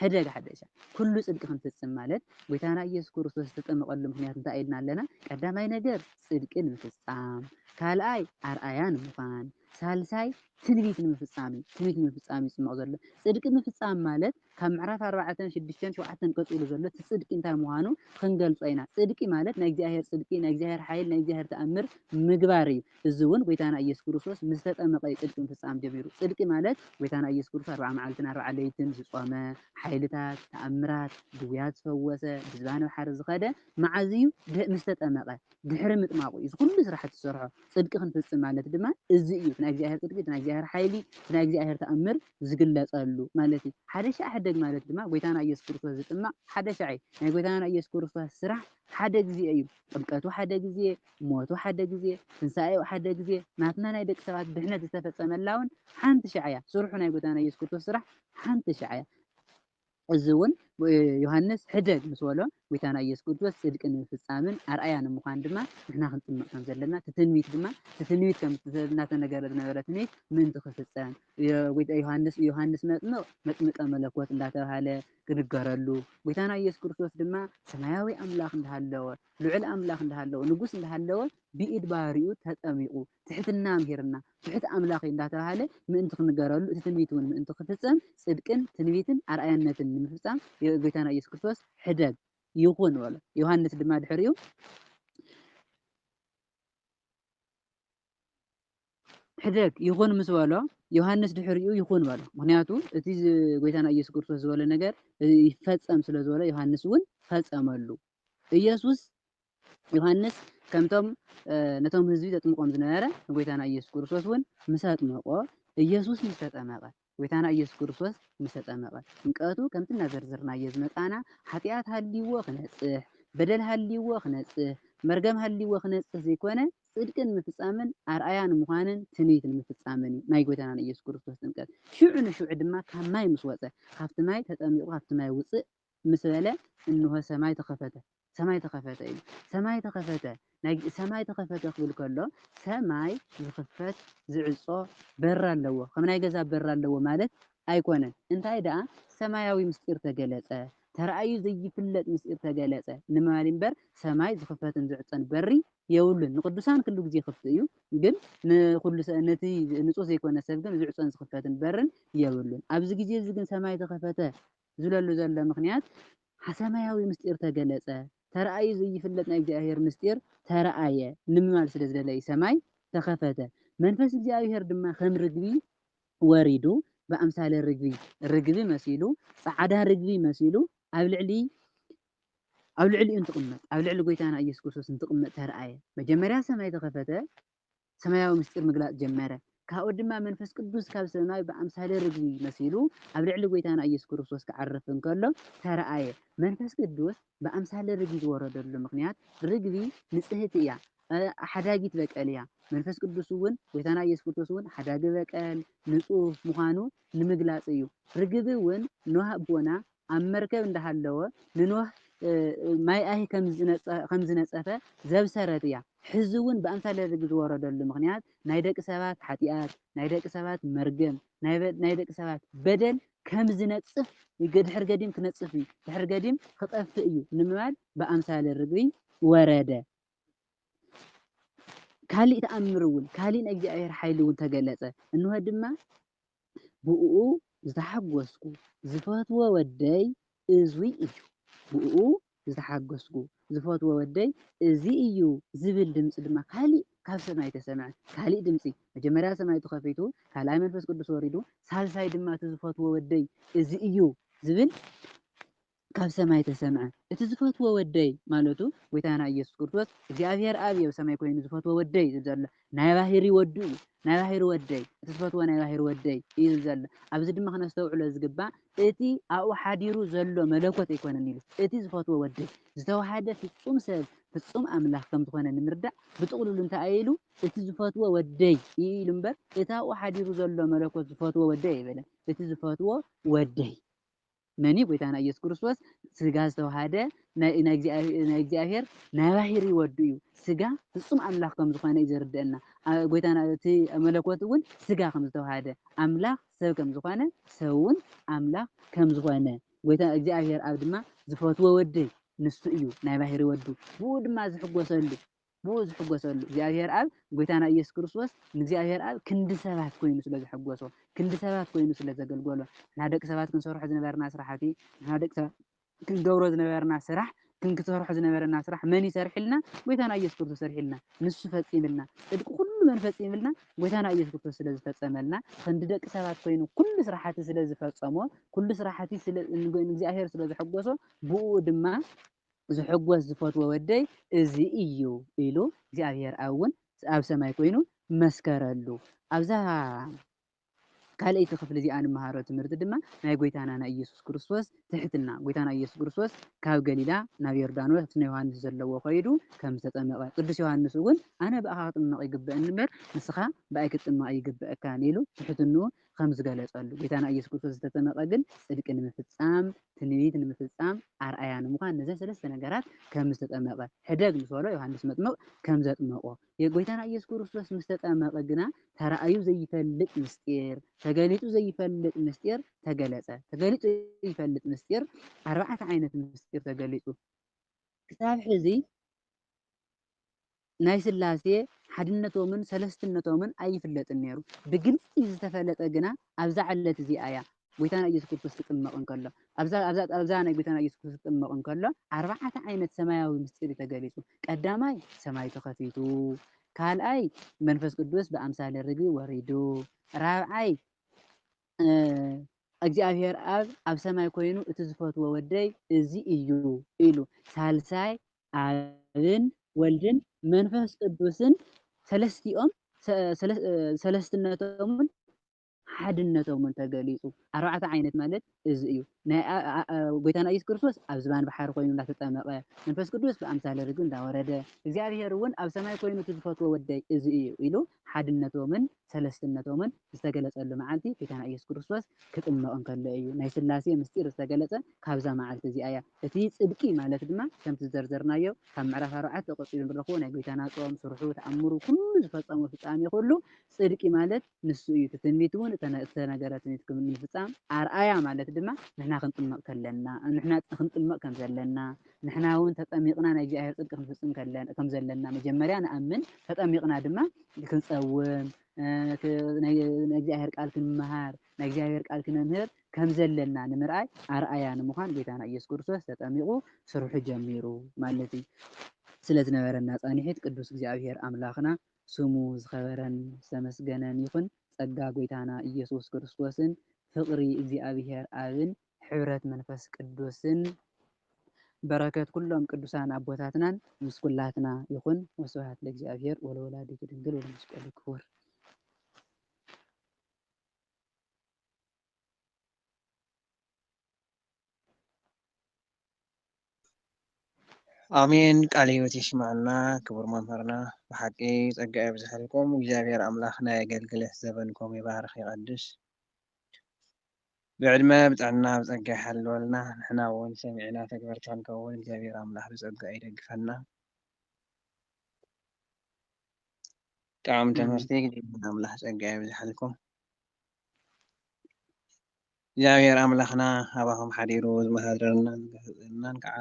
Speaker 2: ሕደግ ሓደሻ። ኩሉ ጽድቂ ክንፍጽም ማለት ጎይታና ኢየሱስ ክርስቶስ ዝተጠመቐሉ ምክንያት እንታይ ኢልና ኣለና? ቀዳማይ ነገር ጽድቂ ንምፍጻም፣ ካልኣይ ኣርኣያ ንምዃን፣ ሳልሳይ ትንቢት ንምፍጻም እዩ። ትንቢት ንምፍጻም እዩ ዝጥመቕ ዘሎ። ጽድቂ ምፍጻም ማለት ካብ ምዕራፍ ኣርባዕተን ሽዱሽተን ሸውዓተን ቀጺሉ ዘሎ እቲ ጽድቂ እንታይ ምዃኑ ኽንገልጾ ኢና። ጽድቂ ማለት ናይ እግዚኣብሄር ጽድቂ፣ ናይ እግዚኣብሄር ሓይል፣ ናይ እግዚኣብሄር ተኣምር ምግባር እዩ። እዚ እውን ጐይታና ኢየሱስ ክርስቶስ ምስ ተጠመቐ እዩ ጽድቂ ምፍጻም ጀሚሩ። ጽድቂ ማለት ጐይታና ኢየሱስ ክርስቶስ ኣርብዓ መዓልትን ኣርብዓ ለይትን ዝጾመ፣ ሓይልታት፣ ተኣምራት፣ ድውያት ዝፈወሰ፣ ብዝባን ኣብ ሓሪ ዝኸደ መዓዝ እዩ? ድሕ ምስ ተጠመቐ፣ ድሕሪ ምጥማቑ እዩ እዚ ዅሉ ስራሓት ዝሰርሖ። ጽድቂ ክንፍጽም ማለት ድማ እዚ እዩ፣ እቲ ናይ እግዚኣብሄር ጽድቂ፣ እቲ ናይ እግዚኣብሄር ሓይሊ፣ እቲ ናይ እግዚኣብሄር ተኣምር፣ ዝግለጸሉ ማለት እዩ። ሓደ ሻዕ ሕደግ ማለት ድማ ጎይታና ኢየሱስ ክርስቶስ ዝጥመቅ ሓደ ሻዕ እዩ። ናይ ጎይታና ኢየሱስ ክርስቶስ ስራሕ ሓደ ግዜ እዩ። ጥምቀቱ ሓደ ግዜ፣ ሞቱ ሓደ ግዜ፣ ትንሳኤኡ ሓደ ግዜ፣ ናትና ናይ ደቂ ሰባት ድሕነት ዝተፈጸመላ ውን ሓንቲ ሻዕ እያ። ስርሑ ናይ ጎይታና ኢየሱስ ክርስቶስ ስራሕ ሓንቲ ሻዕ እያ። እዚ እውን ዮሃንስ ሕደግ ምስ በሎ ጐይታ ናይ ኢየሱስ ክርስቶስ ጽድቂ ንምፍጻምን ኣርኣያ ንምዃን ድማ ንሕና ክንጽምዕ ከም ዘለና እቲ ትንቢት ድማ እቲ ትንቢት ከም እናተነገረ ዝነበረ ትንቢት ምእንቲ ክፍጸም ጐይታ ዮሃንስ ዮሃንስ መጥምቕ መጥምቀ መለኮት እንዳተባሃለ ክንገረሉ ጐይታና ኢየሱስ ክርስቶስ ድማ ሰማያዊ ኣምላኽ እንዳሃለወ ልዑል ኣምላኽ እንዳሃለወ ንጉስ እንዳሃለወ ብኢድ ባሪኡ ተጠሚቑ ትሕትና ኣምሂርና፣ ትሑት ኣምላኽ እዩ እንዳተባህለ ምእንቲ ክንገረሉ፣ እቲ ትንቢት እውን ምእንቲ ክፍጸም፣ ጽድቅን ትንቢትን ኣርኣያነትን ንምፍጻም ብ ጎይታና ኢየሱስ ክርስቶስ ሕደግ ይኹን በሎ። ዮሃንስ ድማ ድሕሪኡ ሕደግ ይኹን ምስ በሎ ዮሃንስ ድሕሪኡ ይኹን በሎ። ምክንያቱ እቲ ጎይታና ኢየሱስ ክርስቶስ ዝበሎ ነገር ይፈጸም ስለ ዝበሎ ዮሃንስ እውን ፈጸመሉ። ኢየሱስ ዮሃንስ ከምቶም ነቶም ህዝቢ ዘጥምቆም ዝነበረ ንጎይታና ኢየሱስ ክርስቶስ እውን ምስ ኣጥመቆ ኢየሱስ ምስ ተጠመቀ ጎይታና ኢየሱስ ክርስቶስ ምስ ተጠመቀ ጥምቀቱ ከምቲ እናዘርዘርናዮ ዝመጻና ሓጢኣት ሃልይዎ ክነጽህ በደል ሃልይዎ ክነጽህ መርገም ሃልይዎ ክነጽህ ዘይኮነ ጽድቂ ንምፍጻምን ኣርኣያ ንምዃንን ትንቢት ንምፍጻምን እዩ ናይ ጎይታና ንኢየሱስ ክርስቶስ ጥምቀት። ሽዑ ንሽዑ ድማ ካብ ማይ ምስ ወጸ ካብቲ ማይ ተጠሚቑ ካብቲ ማይ ውጽእ ምስ በለ እንሆ ሰማይ ተኸፈተ። ሰማይ ተኸፈተ ኢሉ። ሰማይ ተኸፈተ ናይ ሰማይ ተኸፈተ ክብል ከሎ ሰማይ ዝኽፈት ዝዕጾ በር ኣለዎ ከም ናይ ገዛ በር ኣለዎ ማለት ኣይኮነን እንታይ ደኣ ሰማያዊ ምስጢር ተገለጸ ተራእዩ ዘይፍለጥ ምስጢር ተገለጸ ንማሊ እምበር ሰማይ ዝኽፈትን ዝዕጸን በሪ የብሉን ንቅዱሳን ክሉ ግዜ ክፍት እዩ ግን ንኩሉ ነቲ ንጹህ ዘይኮነ ሰብ ግን ዝዕጾን ዝኽፈትን በርን የብሉን ኣብዚ ግዜ እዚ ግን ሰማይ ተኸፈተ ዝብለሉ ዘሎ ምኽንያት ሓሰማያዊ ምስጢር ተገለጸ፣ ተራእዩ ዘይፍለጥ ናይ እግዚኣብሔር ምስጢር ተራእየ ንምባል ስለ ዝደለዩ ሰማይ ተኸፈተ፣ መንፈስ እግዚኣብሔር ድማ ከም ርግቢ ወሪዱ ብኣምሳለ ርግቢ፣ ርግቢ መሲሉ፣ ጸዓዳ ርግቢ መሲሉ ኣብ ልዕሊ ኣብ ልዕሊኡ እንትቕመጥ፣ ኣብ ልዕሊ ጎይታና ኢየሱስ ክርስቶስ እንትቕመጥ ተራእየ፣ መጀመርያ ሰማይ ተኸፈተ፣ ሰማያዊ ምስጢር ምግላጽ ጀመረ። ካብኡ ድማ መንፈስ ቅዱስ ካብ ሰማይ ብኣምሳለ ርግቢ መሲሉ ኣብ ልዕሊ ጐይታና ኢየሱስ ክርስቶስ ክዓርፍ እንከሎ ተራእየ። መንፈስ ቅዱስ ብኣምሳለ ርግቢ ዝወረደሉ ምኽንያት ርግቢ ንጽህቲ እያ፣ ሓዳጊት በቀል እያ። መንፈስ ቅዱስውን ጐይታና ኢየሱስ ክርስቶስውን ሓዳጊ በቀል፣ ንጹህ፣ ምዃኑ ንምግላጽ እዩ። ርግቢውን ኖህ ኣቦና ኣብ መርከብ እንዳሃለወ ንኖህ ማይ ኣይሂ ከም ዝነጸፈ ዘብሰረት እያ። ሕዚ እውን ብኣምሳለ ርግብ ዝወረደሉ ምኽንያት ናይ ደቂ ሰባት ሓጢኣት፣ ናይ ደቂ ሰባት መርገም፣ ናይ ደቂ ሰባት በደል ከም ዝነጽፍ ድሕሪ ገዲም ክነጽፍ እዩ፣ ድሕሪ ገዲም ክጠፍእ እዩ ንምባል ብኣምሳለ ርግቢ ወረደ። ካሊእ ተኣምር እውን፣ ካሊእ ናይ እግዚኣብሔር ሓይሊ እውን ተገለጸ። እንሆ ድማ ብኡኡ ዝተሓጎስኩ ዝፈትዎ ወደይ እዙይ እዩ ብኡኡ ዝተሓጎስኩ ዝፈትዎ ወደይ እዙይ እዩ ዝብል ድምፂ ድማ ካሊእ ካብ ሰማይ ተሰምዐ ካሊእ ድምፂ መጀመርያ ሰማይ ተኸፊቱ ካልኣይ መንፈስ ቅዱስ ወሪዱ ሳልሳይ ድማ እቲ ዝፈትዎ ወደይ እዙይ እዩ ዝብል ካብ ሰማይ ተሰምዐ እቲ ዝፈትዎ ወደይ ማለቱ ጎይታና ኢየሱስ ክርስቶስ እግዚኣብሔር ኣብ እዩ ኣብ ሰማይ ኮይኑ ዝፈትዎ ወደይ ዝብል ዘሎ ናይ ባህሪ ወዱ እዩ ናይ ባህሪ ወደይ እቲ ዝፈትዎ ናይ ባህሪ ወደይ እዩ ዝብል ዘሎ ኣብዚ ድማ ክነስተውዕሎ ዝግባእ እቲ ኣብኡ ሓዲሩ ዘሎ መለኮት ኣይኮነን ኢሉ እቲ ዝፈትዎ ወደይ ዝተዋሃደ ፍጹም ሰብ ፍጹም ኣምላኽ ከም ዝኾነ ንምርዳእ ብጥቕልሉ እንታይ ኢሉ እቲ ዝፈትዎ ወደይ እዩ ኢሉ እምበር እቲ ኣብኡ ሓዲሩ ዘሎ መለኮት ዝፈትዎ ወደይ ኣይበለን እቲ ዝፈትዎ ወደይ መን እዩ? ጎይታና ኢየሱስ ክርስቶስ ስጋ ዝተዋሃደ ናይ ናይ ናይ እግዚኣብሔር ናይ ባህሪ ወዱ እዩ። ስጋ ፍጹም ኣምላኽ ከም ዝኾነ እዩ ዘርድአና። ኣ- ጎይታና እቲ መለኮት እውን ስጋ ከም ዝተዋሃደ ኣምላኽ ሰብ ከም ዝኾነ ሰብ እውን ኣምላኽ ከም ዝኾነ ጎይታ እግዚኣብሔር ኣብ ድማ ዝፈትዎ ወደይ ንሱ እዩ ናይ ባህሪ ወዱ ብኡ ድማ ዝሕጎሰሉ ብኡ ዝሕጐሰሉ እግዚኣብሔር ኣብ ጐይታና ኢየሱስ ክርስቶስ ንእግዚኣብሔር ኣብ ክንዲ ሰባት ኮይኑ ስለ ዘሐጐሶ ክንዲ ሰባት ኮይኑ ስለ ዘገልገሎ ንሕና ደቂ ሰባት ክንሰርሖ ዝነበረና ስራሕቲ ንሕና ደቂ ሰባት ክንገብሮ ዝነበረና ስራሕ ክንክሰርሖ ዝነበረና ስራሕ መን ይሰርሕልና ጐይታና ኢየሱስ ክርስቶስ ሰርሕልና ንሱ ፈጺምልና ጽድቂ ኩሉ መን ፈጺምልና ጐይታና ኢየሱስ ክርስቶስ ስለ ዝፈጸመልና ክንዲ ደቂ ሰባት ኮይኑ ኩሉ ስራሕቲ ስለ ዝፈጸሞ ኩሉ ስራሕቲ ንእግዚኣብሔር ስለ ዘሐጐሶ ብኡ ድማ ዝሕጐስ ዝፈትዎ ወደይ እዚ እዩ ኢሉ እግዚኣብሔር ኣብ እውን ኣብ ሰማይ ኮይኑ መስከረሉ። ኣብዛ ካልኣይቲ ክፍሊ እዚኣ እንመሃሮ ትምህርቲ ድማ ናይ ጐይታና ናይ ኢየሱስ ክርስቶስ ትሕትና ጐይታና ኢየሱስ ክርስቶስ ካብ ገሊላ ናብ ዮርዳኖስ ኣብቲ ዮሃንስ ዘለዎ ከይዱ ከም ዝተጠመቐ ቅዱስ ዮሃንስ እውን ኣነ ብኣኻ ክጥመቕ ይግበእኒ እምበር ንስኻ ብኣይ ክትጥመቕ ኣይግበእካን ኢሉ ትሕትንኡ ከም ዝገለጸሉ፣ ጐይታና ኢየሱስ ክርስቶስ ዝተጠመቐ ግን ጽድቂ ንምፍጻም፣ ትንቢት ንምፍጻም፣ ኣርኣያ ንምዃን ነዘን ሰለስተ ነገራት ከም ዝተጠመቐ፣ ሕደግ ምስ በሎ ዮሐንስ መጥምቕ ከም ዘጥመቖ፣ ጐይታና ኢየሱስ ክርስቶስ ምስ ተጠመቐ ግና ተራእዩ ዘይፈልጥ ምስጢር፣ ተገሊጹ ዘይፈልጥ ምስጢር ተገለጸ። ተገሊጹ ዘይፈልጥ ምስጢር፣ ኣርባዕተ ዓይነት ምስጢር ተገሊጹ ክሳብ ሕዚ፣ ናይ ሥላሴ ሓድነቶምን ሠለስትነቶምን ኣይፍለጥን ነይሩ። ብግልጺ ዝተፈለጠ ግና ኣብዛ ዕለት እዚኣ እያ። ጐይታና ኢየሱስ ክርስቶስ ክጥመቕ እንከሎ ኣብዛ ኣብዛ ኣብዛ ናይ ጐይታና ኢየሱስ ክርስቶስ ክጥመቕ እንከሎ ኣርባዕተ ዓይነት ሰማያዊ ምስጢር እዩ ተገሊጹ። ቀዳማይ ሰማይ ተኸፊቱ፣ ካልኣይ መንፈስ ቅዱስ ብኣምሳለ ርግቢ ወሪዱ፣ ራብዓይ እግዚኣብሔር ኣብ ኣብ ሰማይ ኮይኑ እቲ ዝፈትዎ ወደይ እዚ እዩ ኢሉ፣ ሳልሳይ ኣብን ወልድን መንፈስ ቅዱስን ሰለስቲኦም ሰለስትነቶምን ሓድነቶምን ተገሊጹ። ኣርባዕተ ዓይነት ማለት እዚ እዩ። ጎይታና ኢየሱስ ክርስቶስ ኣብ ዝባን ባሕሪ ኮይኑ እንዳተጠመቐ፣ መንፈስ ቅዱስ ብኣምሳለ ርግቢ እንዳወረደ፣ እግዚኣብሔር እውን ኣብ ሰማይ ኮይኑ እቲ ዝፈትዎ ወደይ እዚ እዩ ኢሉ ሓድነቶምን ሰለስትነቶምን ዝተገለጸሉ መዓልቲ ጐይታና ኢየሱስ ክርስቶስ ክጥመቕ እንከሎ እዩ። ናይ ሥላሴ ምሥጢር ዝተገለጸ ካብዛ መዓልቲ እዚኣ እያ። እቲ ጽድቂ ማለት ድማ ከምቲ ዝዘርዘርናዮ ካብ ምዕራፍ ኣርባዕተ ቀጺሉ እንረኽቦ ናይ ጐይታና ጾም፣ ሥርሑ፣ ተኣምሩ ኩሉ ዝፈጸሞ ፍጻሜ ኩሉ ጽድቂ ማለት ንሱ እዩ። እቲ ትንቢት እውን ዝተነገረ ትንቢት ንምፍጻም ኣርኣያ ማለት ድማ ንሕና ክንጥመቕ ከለና ንሕና ክንጥመቕ ከም ዘለና ንሕና እውን ተጠሚቕና ናይ እግዚኣብሔር ጽድቂ ክንፍጽም ከም ዘለና መጀመርያ ንኣምን፣ ተጠሚቕና ድማ ክንጸውም፣ ናይ እግዚኣብሔር ቃል ክንመሃር፣ ናይ እግዚኣብሔር ቃል ክነምህር ከም ዘለና ንምርኣይ ኣርኣያ ንምዃን ጌታና ኢየሱስ ክርስቶስ ተጠሚቑ ስርሑ ጀሚሩ ማለት እዩ። ስለ ዝነበረና ጻንሒት ቅዱስ እግዚኣብሔር ኣምላኽና ስሙ ዝኸበረን ዝተመስገነን ይኹን። ጸጋ ጐይታና ኢየሱስ ክርስቶስን ፍቕሪ እግዚኣብሔር ኣብን ሕብረት መንፈስ ቅዱስን በረከት ኩሎም ቅዱሳን ኣቦታትናን ምስ ኩላትና ይኹን። ወስብሐት ለእግዚኣብሔር ወለወላዲቱ ድንግል ወለመስቀሉ ክቡር።
Speaker 1: ኣሜን ቃለ ህይወት የስመዐልና ክቡር መምህርና ብሓቂ ፀጋ የብዝሐልኩም እግዚኣብሔር ኣምላክ ናይ ኣገልግሎት ዘበንኩም ይባርክ ይቀድስ ብዕድመ ብጥዕና ብፀጋ ይሓልወልና ንሕና እውን ሰሚዕና ተግበርቲ ክንከውን እግዚኣብሔር ኣምላክ ብፀጋ ይደግፈና ጥዑም ትምህርቲ እግዚኣብሔር ኣምላክ ፀጋ የብዝሐልኩም እግዚኣብሔር ኣምላኽና ኣባኹም ሓዲሩ ዝመሃረልናን ዝገሰጸልናን ከኣ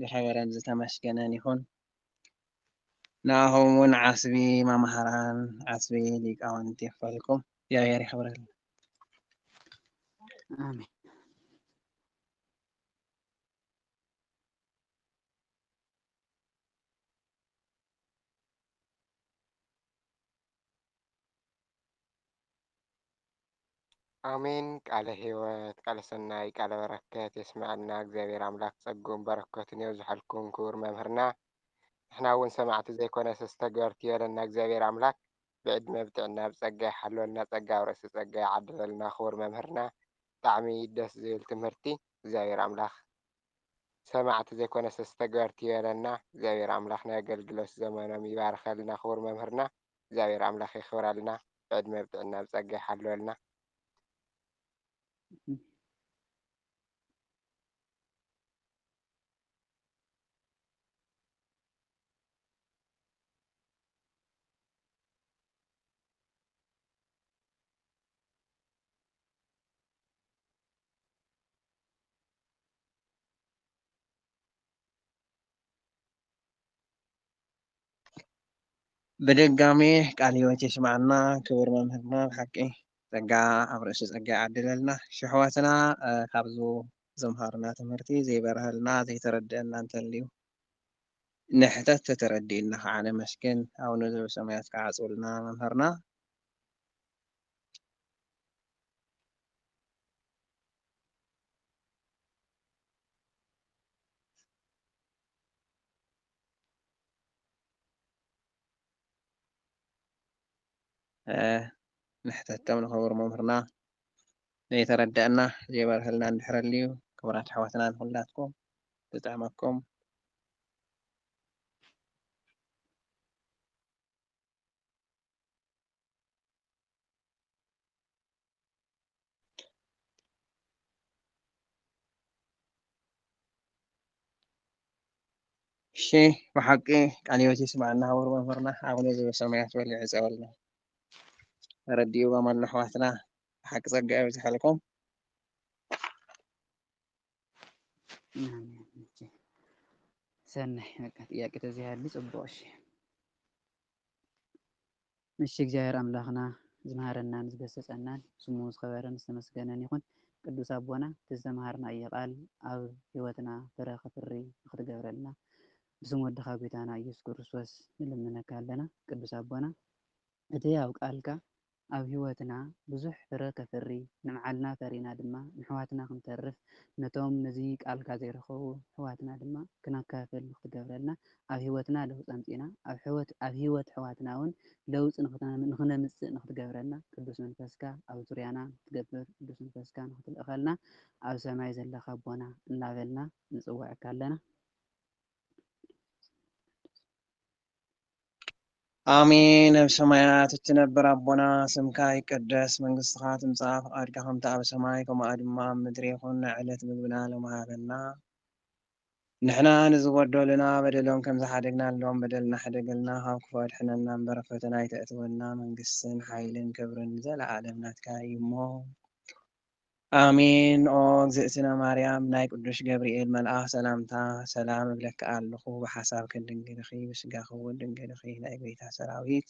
Speaker 1: ዝኸበረን ዝተመስገነን ይኹን። ንኣኹም ውን ዓስቢ መማህራን ዓስቢ ሊቃውንት የኽፈልኩም። እግዚኣብሔር የኽብረልና።
Speaker 2: ኣሜን።
Speaker 3: ኣሜን ቃለ ህይወት ቃለ ሰናይ ቃለ በረከት የስመዐልና እግዚኣብሔር ኣምላክ ፀግኡን በረከቱን የብዝሐልኩም ክቡር መምህርና ንሕና እውን ሰማዕቲ ዘይኮነስ ተግበርቲ ይበለና እግዚኣብሔር ኣምላክ ብዕድመ ብጥዕና ብፀጋ ይሓልወልና ፀጋ ኣብ ርእሲ ፀጋ ይዓድለልና ክቡር መምህርና ብጣዕሚ ደስ ዝብል ትምህርቲ እግዚኣብሔር ኣምላክ ሰማዕቲ ዘይኮነስ ተግበርቲ ይበለና እግዚኣብሔር ኣምላክ ናይ ኣገልግሎት ዘመኖም ይባርከልና ክቡር መምህርና እግዚኣብሔር ኣምላክ የክብረልና ብዕድመ ብጥዕና ብፀጋ ይሓልወልና።
Speaker 1: ብድጋሜ ቃል ህይወት የስመዓልና ክቡር መምህርና ብሓቂ ጸጋ ኣብ ርእሲ ጸጋ ይዓድለልና ሽሕዋትና ካብዚ ዘምሃሩና ትምህርቲ ዘይበርሀልና ዘይተረድአና እንተልዩ ንሕተት ተተረዲእና ከዓ ነመስግን ኣቡነ ዘበሰማያት ከዓ ኣጽብልና መምህርና ንሕተቶም ንኸብር መምህርና ዘይተረደአና ዘይበርሀልና እንድሕር ኣልዩ ክብራት ኣሕዋትና ንኹላትኩም ዝጥዕመኩም እሺ ብሓቂ ቃለ ሕይወት ይስምዓልና ክቡር መምህርና ኣቡነ ዘበሰማያት በል ይዕፀወልና ተረዲእዎም ኣሎ ኣሕዋትና ብሓቂ ፀጋ የብዝሓልኩም
Speaker 2: ሰናይ በቃ ጥያቄ ተዘይሃሉ ፅቡቅ እሺ እሺ እግዚኣብሔር ኣምላክና ዝመሃረናን ዝገሰፀናን ስሙ ዝከበረን ዝተመስገነን ይኩን ቅዱስ ኣቦና እቲ ዝተማሃርናዮ ቃል ኣብ ህይወትና ፍረ ከፍሪ ንክትገብረልና ብስም ወድካ ጎይታና እየሱስ ክርስቶስ ንልምነካ ኣለና ቅዱስ ኣቦና እቲ ኣብ ቃልካ ኣብ ህይወትና ብዙሕ ፍረ ከፍሪ ንብዓልና ፈሪና ድማ ንሕዋትና ክንተርፍ ነቶም ነዚ ቃልካ ዘይረከቡ ሕዋትና ድማ ክነካፍል ንክትገብረልና ኣብ ሕይወትና ለውጢ ኣምጺእና ኣብ ሕይወት ኣብ ሕይወት ኣሕዋትናውን ለውጢ ንኽነምጽእ ንኽትገብረና ቅዱስ መንፈስካ ኣብ ዙርያና ንኽትገብር ቅዱስ መንፈስካ ንኽትልእኸልና ኣብ ሰማይ ዘለኻ ኣቦና እናበልና ንጽውዐካ ኣለና።
Speaker 1: ኣሜን ኣብ ሰማያት እትነብር ኣቦና ስምካ ይቀደስ መንግስትኻ ትምጻእ ፍቃድካ ከምቲ ኣብ ሰማይ ከምኡ ድማ ኣብ ምድሪ ይኹን ናይ ዕለት ምግብና ሎሚ ሃበና ንሕና ንዝበደሉና በደሎም ከም ዝሓደግናሎም በደልና ሕደገልና ካብ ክፉእ ኣድሕነና እምበር ኣብ ፈተና ኣይተእትወና መንግስትን ሓይልን ክብርን ንዘለኣለም ናትካ እዩሞ ኣሜን ኦ እግዝእትነ ማርያም ናይ ቅዱሽ ገብርኤል መልኣኽ ሰላምታ ሰላም እብለኪ ኣሎኹ ብሓሳብኪ ድንግልኺ ብስጋኺ እውን ድንግልኺ ናይ ጎይታ ሰራዊት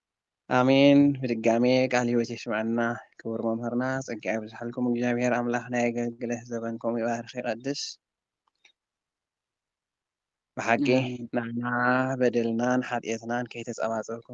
Speaker 1: ኣሜን ብድጋሜ ቃል ህይወት የስመዐልና ክቡር መምህርና ፀጋ የብዝሐልኩም እግዚኣብሔር ኣምላክ ናይ ኣገልግለት ዘበንኩም ይባርክ ይቀድስ ብሓቂ ንዓና በደልናን ሓጥየትናን ከይተፀባፀብኩም